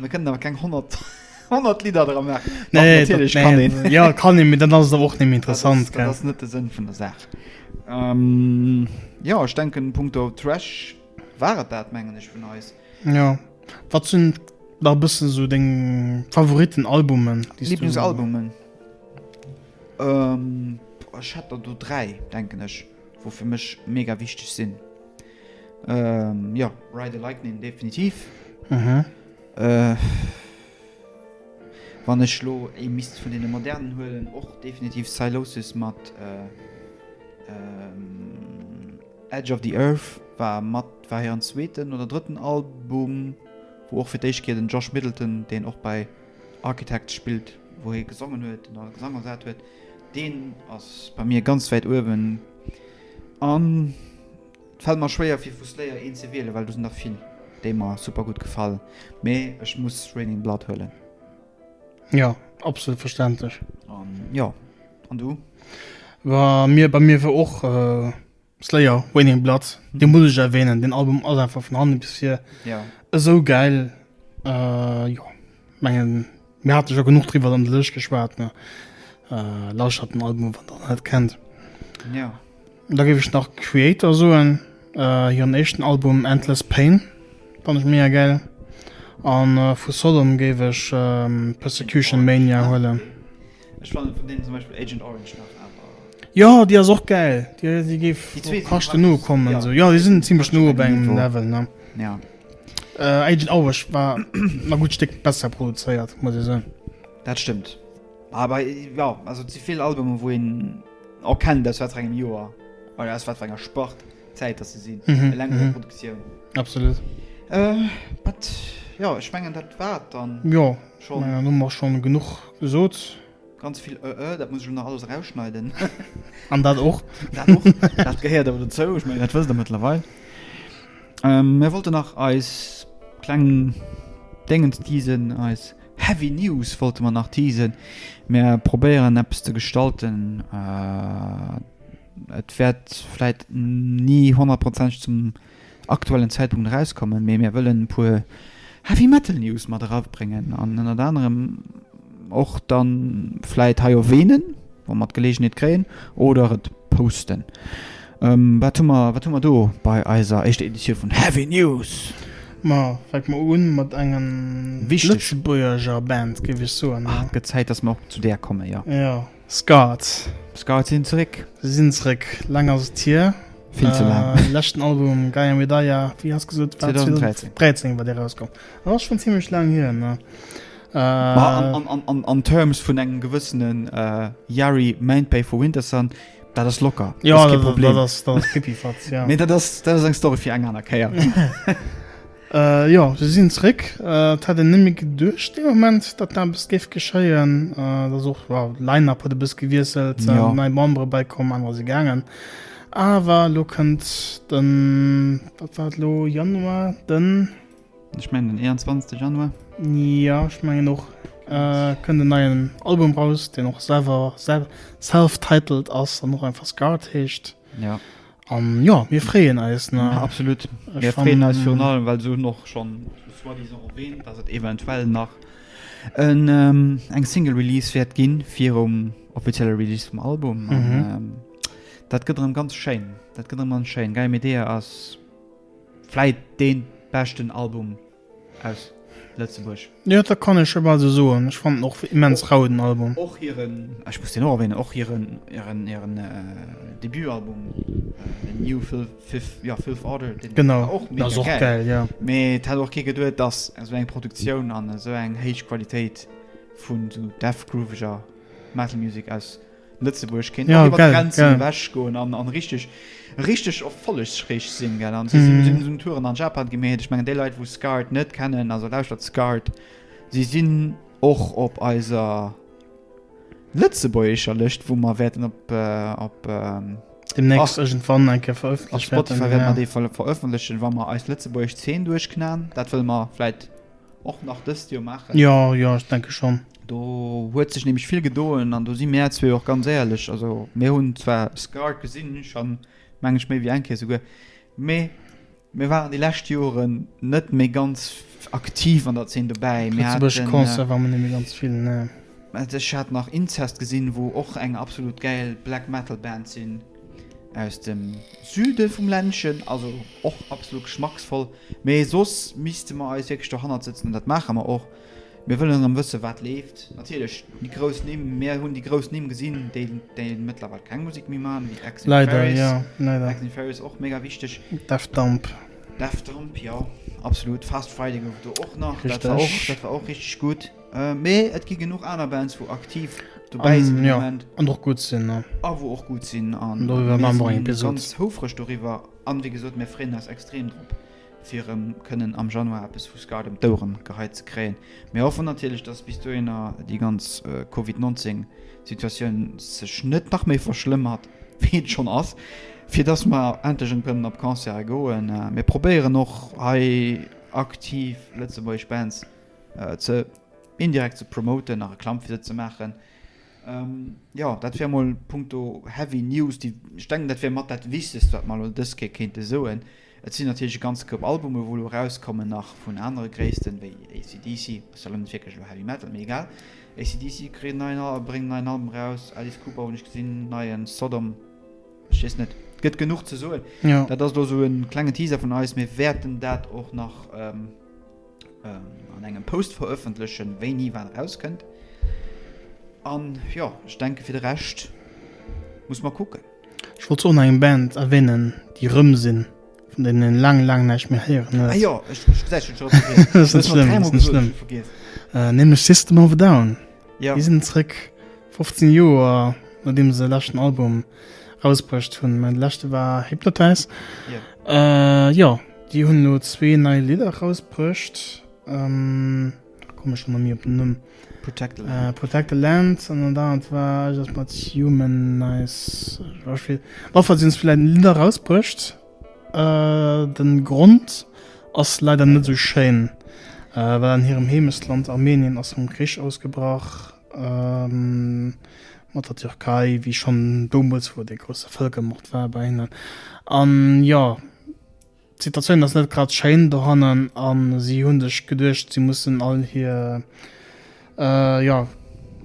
Speaker 2: Mir kënnen awer keng 100, 100 Lidder dra maachen. Doch, Nee, natierlech kann een.
Speaker 1: dat, ja,
Speaker 2: kann een,
Speaker 1: mee
Speaker 2: dann ass et
Speaker 1: awer och net méi Dat ass- interessant, Dat gell? ass net de Sënn vun
Speaker 2: der Saach. Ähm, jo, ech denken, punkto Trash war et dat, mengen ech, vun eis. Jo.
Speaker 1: Wat sinn nach e bëssen esou deng Favoritten-Albummen, déi s du esou- Lieblingsalbumen?
Speaker 2: Ähm, boah, ech hätt der do dräi, denken ech. Wou fir mech mega wichteg sinn jo Ride the Lightning definitiv wann ech lo ee misst vun deene modernen huelen och definitiv Sylosis mat Edge of the Earth war mat war hiren zweeten oder drëtten Album wou och fir d'éischt Kéier den Josh Middleton deen och bei Architects spillt, wou hie gesongen huet oder de Gesang ersat huet, deen ass bei mir ganz wäit uewen. An et fält mer schwéier fir vu Slayer een ze wielen, well do sinn der vill déi mer super gutt gefalen, mee ech muss Raining Blood huelen. Jo,
Speaker 1: absolut verständlech. An jo,
Speaker 2: an du?
Speaker 1: Bei mir wier och Slayer, Raining in Blood, dee muss ech erwähnen, den Album ass einfach vun hannen bis vir ja. esou
Speaker 2: geil
Speaker 1: äh, jo mengen mir hat ja genug driwer an de Lëch geschwaart ne äh, lauscht hat den Album wat dann halt kennt ja.
Speaker 2: da gebe ich
Speaker 1: nach Creator soen äh, hiren echten Album Endless Pain fand ich mega geil an äh, vu Sodom géif ech äh, Persecution Mania huelen. Ja. Ech
Speaker 2: fannen vun deenen zum Beispill Agent Orange nach awer. Jo déi ass och
Speaker 1: gäil, déi géif kaschten
Speaker 2: no
Speaker 1: kommen
Speaker 2: sou.
Speaker 1: Jo déi
Speaker 2: sinn zimlech
Speaker 1: no op engem Level
Speaker 2: ne.
Speaker 1: Jo.
Speaker 2: Agent
Speaker 1: Orange war na gutt Stéck besser produzéiert muss ee soen. Dat stëmmt.
Speaker 2: Awer jo also et si vill Albumen wou een erkennt aus wat fir engem Joer oder aus wat fir enger Sport Zäit datt se sinn. Eleng un der Produktioun. Absolut. Wat jo ech mengen dat war et dann. Jo. Schon. Ja,
Speaker 1: nun mach schon
Speaker 2: genug
Speaker 1: gesot. Ganz vill ë
Speaker 2: ë, dat muss ech lo nach alles erausschneiden. An dat
Speaker 1: och. Dat och, dat
Speaker 2: gehéiert awer dozou, ech mengen dat wësst der mëttlerweil. Ähm, mär wollte nach eis kleng Déngens teasen, eis heavy news wollte mer nach teasen. Mär probéieren eppes ze gestalten, äh, et wäert vläit ni honnertprozenteg zum aktuellen Zäitpunkt erauskommen, mee mär wëllen e puer Heavy Metal News mat erabréngen an ënnert anerem och dann vläit hei erwähnen, wa mer d'Gelegenheet kréien, oder et posten. Wat hu mer, wat hu mer do bei eiser éischter Editioun vun Heavy News? Ma fänke
Speaker 1: mer un mat engen lëtzebuerger
Speaker 2: Band,
Speaker 1: géif ech soen. Ah, et gëtt Zäit, dass mer och zu
Speaker 2: där kommen, jo. Jo. Scouts.
Speaker 1: D'Scouts sinn
Speaker 2: zeréck. Si sinn zeréck.
Speaker 1: Laang ass et hier. Vill ze laang. Äh,
Speaker 2: leschten Album, Gaia
Speaker 1: Medaia, wéi has gesot? 2013. 2013
Speaker 2: war dee rauskomm.
Speaker 1: Dat ass schonn zimmlech laang hier, ne? Äh. An, an, an, an,
Speaker 2: an terms vun engem gewëssenen äh, Yari, Mainpay for Wintersun, dat ass locker. Jo, dat ass kee Problem. Dat ass,
Speaker 1: dat ass
Speaker 2: pipifatz,
Speaker 1: jo. Mee dat ass, dat ass eng Story
Speaker 2: fir eng aner Kéier.
Speaker 1: Jo, se sinn zréck. Et hätt een net méi geduecht dee Moment, datt dat eppes géif geschéien. Et ass och, jo, Line-Up huet e bësse gewiesselt, nei Membere
Speaker 2: bäikomm,
Speaker 1: anerer si gaangen. Awer elo kënnt den, wat war et elo, Januar, den. Ech mengen den 21.
Speaker 2: Januar. Jo, ech
Speaker 1: mengen och, kënnt en neien Album raus, deen och selwer self-titled ass an och einfach Scarred heescht. Ja. An
Speaker 2: jo, mir
Speaker 1: freeën eis. Ne? Absolut. Mir
Speaker 2: freeën eis virun allem,
Speaker 1: well se hunn
Speaker 2: och schonn soi-disant erwähnt, dass et eventuell nach en, ähm, eng Single Release wäert ginn virum offizielle Release vum Album. An, Mhm. ähm, dat gëtt erëm ganz schéin. Dat gëtt erëm ganz schéin. Gaia Medea ass vläit dee beschten Album aus Lëtzebuerg. Jo, dat kann ech
Speaker 1: jo bal sou soen. Ech fannen och immens rau den Album. Och hiren, ech
Speaker 2: muss deen och erwänen, och hiren, hiren, hiren Debutalbum, den New Fifth, jo, Fifth Order, deen war och mega gäil. Genau, dat ass och
Speaker 1: gäil,
Speaker 2: jo.
Speaker 1: Mee et hätt och kee
Speaker 2: geduet, dass esou eng Produktioun an esou eng héich Qualitéit vun esou Death Grooveger Metal Music aus. Lëtzebuerg kéint och iwwer d'Grenzen ewech goen an
Speaker 1: richteg,
Speaker 2: richteg erfollegsräich sinn, gell? An si sinn esou Touren an Japan gi, mee ech mengen déi Leit, wou Scarred net kennen, also lauschtert Scarred, si sinn och op eiser lëtzebuergescher Lëscht, wou mer wäerten op, op, deemnächst
Speaker 1: iergendwann eng Kéier verëffentlecht, op Spotify wäerte mer déi
Speaker 2: verëffentlechen,
Speaker 1: wa
Speaker 2: mer eis lëtzebuergesch Zeen duerchknallen. Dat wëlle mer vläicht. och nach dëst Joer maachen. Jo, jo, ech denke schonn.
Speaker 1: Do huet
Speaker 2: sech nämlech vill gedoen an do si mär zwee och ganz éierlech. Also mir hunn zwar Scarred gesinn, schonn, meng ech, méi wéi eng Kéier souguer, mee mir waren déi lescht Joren net méi ganz aktiv an der Zeen dobäi. Mir haten. Lëtzebuerg Concert war mer net
Speaker 1: méi ganz
Speaker 2: vill,
Speaker 1: ne. Ech hat nach
Speaker 2: Incest gesinn, wou och eng absolut gäil Black Metal Band sinn. Aus dem Süde vum Ländchen, also och absolut geschmacksvoll. Mee soss misste mer eis wierklech dohannert sëtzen an dat maache mer och. Mir wëllen erëm wësse wat leeft. Natierlech déi grouss Nimm. Mir hunn déi grouss Nimm gesinn, déi mëttlerweil keng Musek méi maachen, wéi Axel Ferris. Leider, jo, leider.
Speaker 1: Axel Ferris och mega
Speaker 2: wichteg. Daft Damp.
Speaker 1: Daft Damp,
Speaker 2: jo, absolut. Fast Friday gouf et do och nach. Richteg. Dat war och, dat war och
Speaker 1: richteg
Speaker 2: gutt. Äh, mee et gi genuch aner Bands, wo aktiv dobäi sinn um Moment. An och gutt
Speaker 1: sinn. A wou och gutt sinn.
Speaker 2: An doriwwer maache mer eng Episod. Mir sinn
Speaker 1: ganz houfreg doriwwer.
Speaker 2: An wéi gesot, mir freeën eis extrem drop, fir erëm kënnen am Januar eppes vu Scud ëm d'Oueren geheit ze kréien. Mir hoffen natierlech, dass bis dohinner déi ganz Covid 19 Situatioun sech net nach méi verschlëmmert, wéi et schonn ass, fir dass mer endlech erëm kënnen op Concerte goen. Mir probéieren och hei aktiv lëtzebuergesch Bands ze indirekt ze promoten a Reklamm fir se ze maachen. Jo, dat wär mol punkto heavy news, déi, ech denken, dat wär mat dat Wichtegst, wat mer elo dës Kéier kéinte soen. Et sinn natierlech e ganze Koup Albume wou elo erauskommen, nach vun anere Gréissten, wéi AC/DC, ass jo elo net wierklech elo Heavy Metal, mee egal. AC/DC kritt en neien Al, bréngen en neien Album eraus, Alice Cooper hunn ech gesinn, neien Sodom, ech weess net, et gëtt genuch ze soen. Dat ass elo esou e
Speaker 1: klenge
Speaker 2: Teaser vun eis, mir wäerten dat och nach. an engem Post verëffentlechen, wéini wat erauskënnt. An jo, ech denke fir de Rescht muss mer kucken. Ech wollt och nach eng
Speaker 1: Band erwänen, déi erëm sinn, vun deenen een laang, laang näischt méi héieren huet. Ah jo, ech, ech, dat hunn
Speaker 2: ech och vergiess. Dat ass net schlëmm, dat ass net
Speaker 1: schlëmm. Nämlech
Speaker 2: System of a
Speaker 1: Down. Jo. Déi sinn zrëck. 15 Joer nodeem se e leschten Album rausbruecht hunn. Mä de leschte war Hypnotize. Yeah. Jo, déi hunn elo zwee nei Lidder rausbruecht. Komme ech ëmmer ni op den Numm. Protect the Land. Protect the Land an dat anert war iergendwas mat Humanize. Ech weess net. Op alle Fall hunn se vläicht Lidder rausbruecht. De Grond ass leider net esou schéin, well an hirem Heemechtsland Armenien ass rëm Krich ausgebrach. mat der Türkei, wéi schonn domuels, wou dee grousse Vëlkermord war bei hinnen. An jo, d'Situatioun ass net grad schéin dohannen an si hu sech geduecht, si mussen all hir, jo,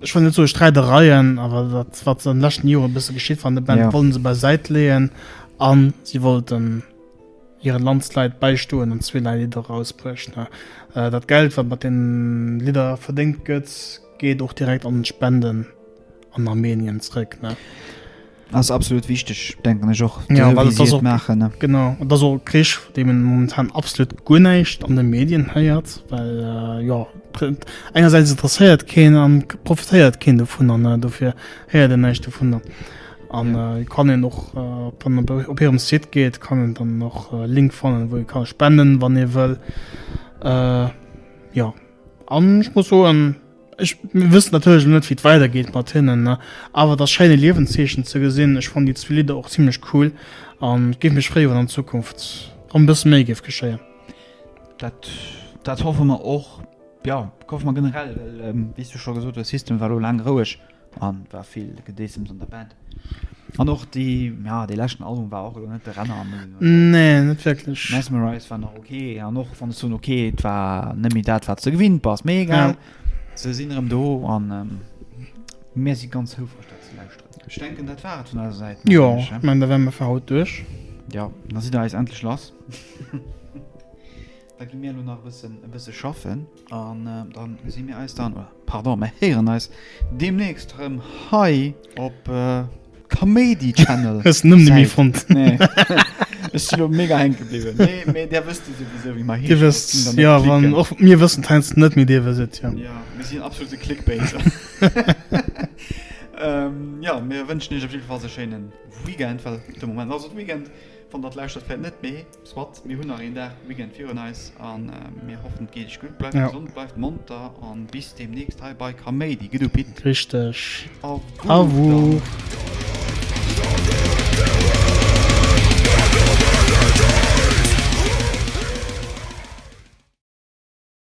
Speaker 1: ech wëll net soe Sträidereien, awer dat, wat an de leschten Jore e bësse geschitt war an de Bänn, wollte se bei Säit leeën a si wollten Hiren Landsleit bäistoen an zweerlei Lidder rausbruecht. Dat Geld, wat mat den Lidder verdéngt gëtt, geet och direkt an Spenden an Armenien zréck. Ass
Speaker 2: absolut wichteg, denken ech och.
Speaker 1: Genau, et
Speaker 2: ass och e Krich,
Speaker 1: vu deem een momentan absolut guer näischt an de Medien héiert, well jo engersäits interesséiert keen an profitéiert keen dovunner, dofir héiert een näischt dovunner. An äh, kann een och äh, dann op, op hirem Site geet, kann en dann noch äh, Link fannen, wou e kann spenden, wann ee wëll. Äh, ja an ich muss so en ich wüsste natürlich net wie weiter geht mat hinnen ne? aber das scheine Liwenzeechen ze gesinn ich fand die zwei Lieder auch ziemlich cool an gi mich frei an Zukunft an bis méi gif geschéien dat
Speaker 2: dat hoffe man och ja koch man generell ähm, wie du schon gesucht der System war lang roueg An et war vill Gedeessems an der Band. An och déi, ja, dee leschten Album war och elo net de Renner, muss een elo soen. Nee, net
Speaker 1: wierklech. Mesmerize war nach ok,
Speaker 2: an och wann ech soen ok, et war net méi dat, wat s de gewinnt bass. Mee egal, Ja. se sinn erëm do an mir si ganz houfreg, dat ze lauschteren. Ech denken, dat war et vun eiser Säit, Jo, mengen ech, ech he? menn, da wäre mir
Speaker 1: fir haut duerch. Jo, da sidd
Speaker 2: der eis endlech lass. Da gi mir elo nach e bëssen e bësse schaffen an da si mir eis dann, oder pardon, mir héieren eis deemnächst erëm hei op Kaméidi Channel. Hues den Numm net méi fonnt?
Speaker 1: Nee.
Speaker 2: Ech sinn elo mega hänke bliwwen. Nee, mee där wësst jo souwisou, wéi mer heeschen. Dir wësst et, jo. Wann
Speaker 1: och mir wëssen et heiansdo net, mee dir wësst et, jo. Jo, mir sinn absolute
Speaker 2: Clickbaiter. Jo, mir wënschen iech op jiddwer Fall e schéine Weekend, well de Moment ass et Weekend, wann der et lauschtert vläicht net, mee. Soit, mir hunn nach een Dag Weekend virun eis an mir hoffen et geet iech gutt, bleift gesond, bleift monter an bis demnächst hei bei Kaméidi. Gëtt u Pitt.
Speaker 1: Richteg.
Speaker 2: Awuuhh.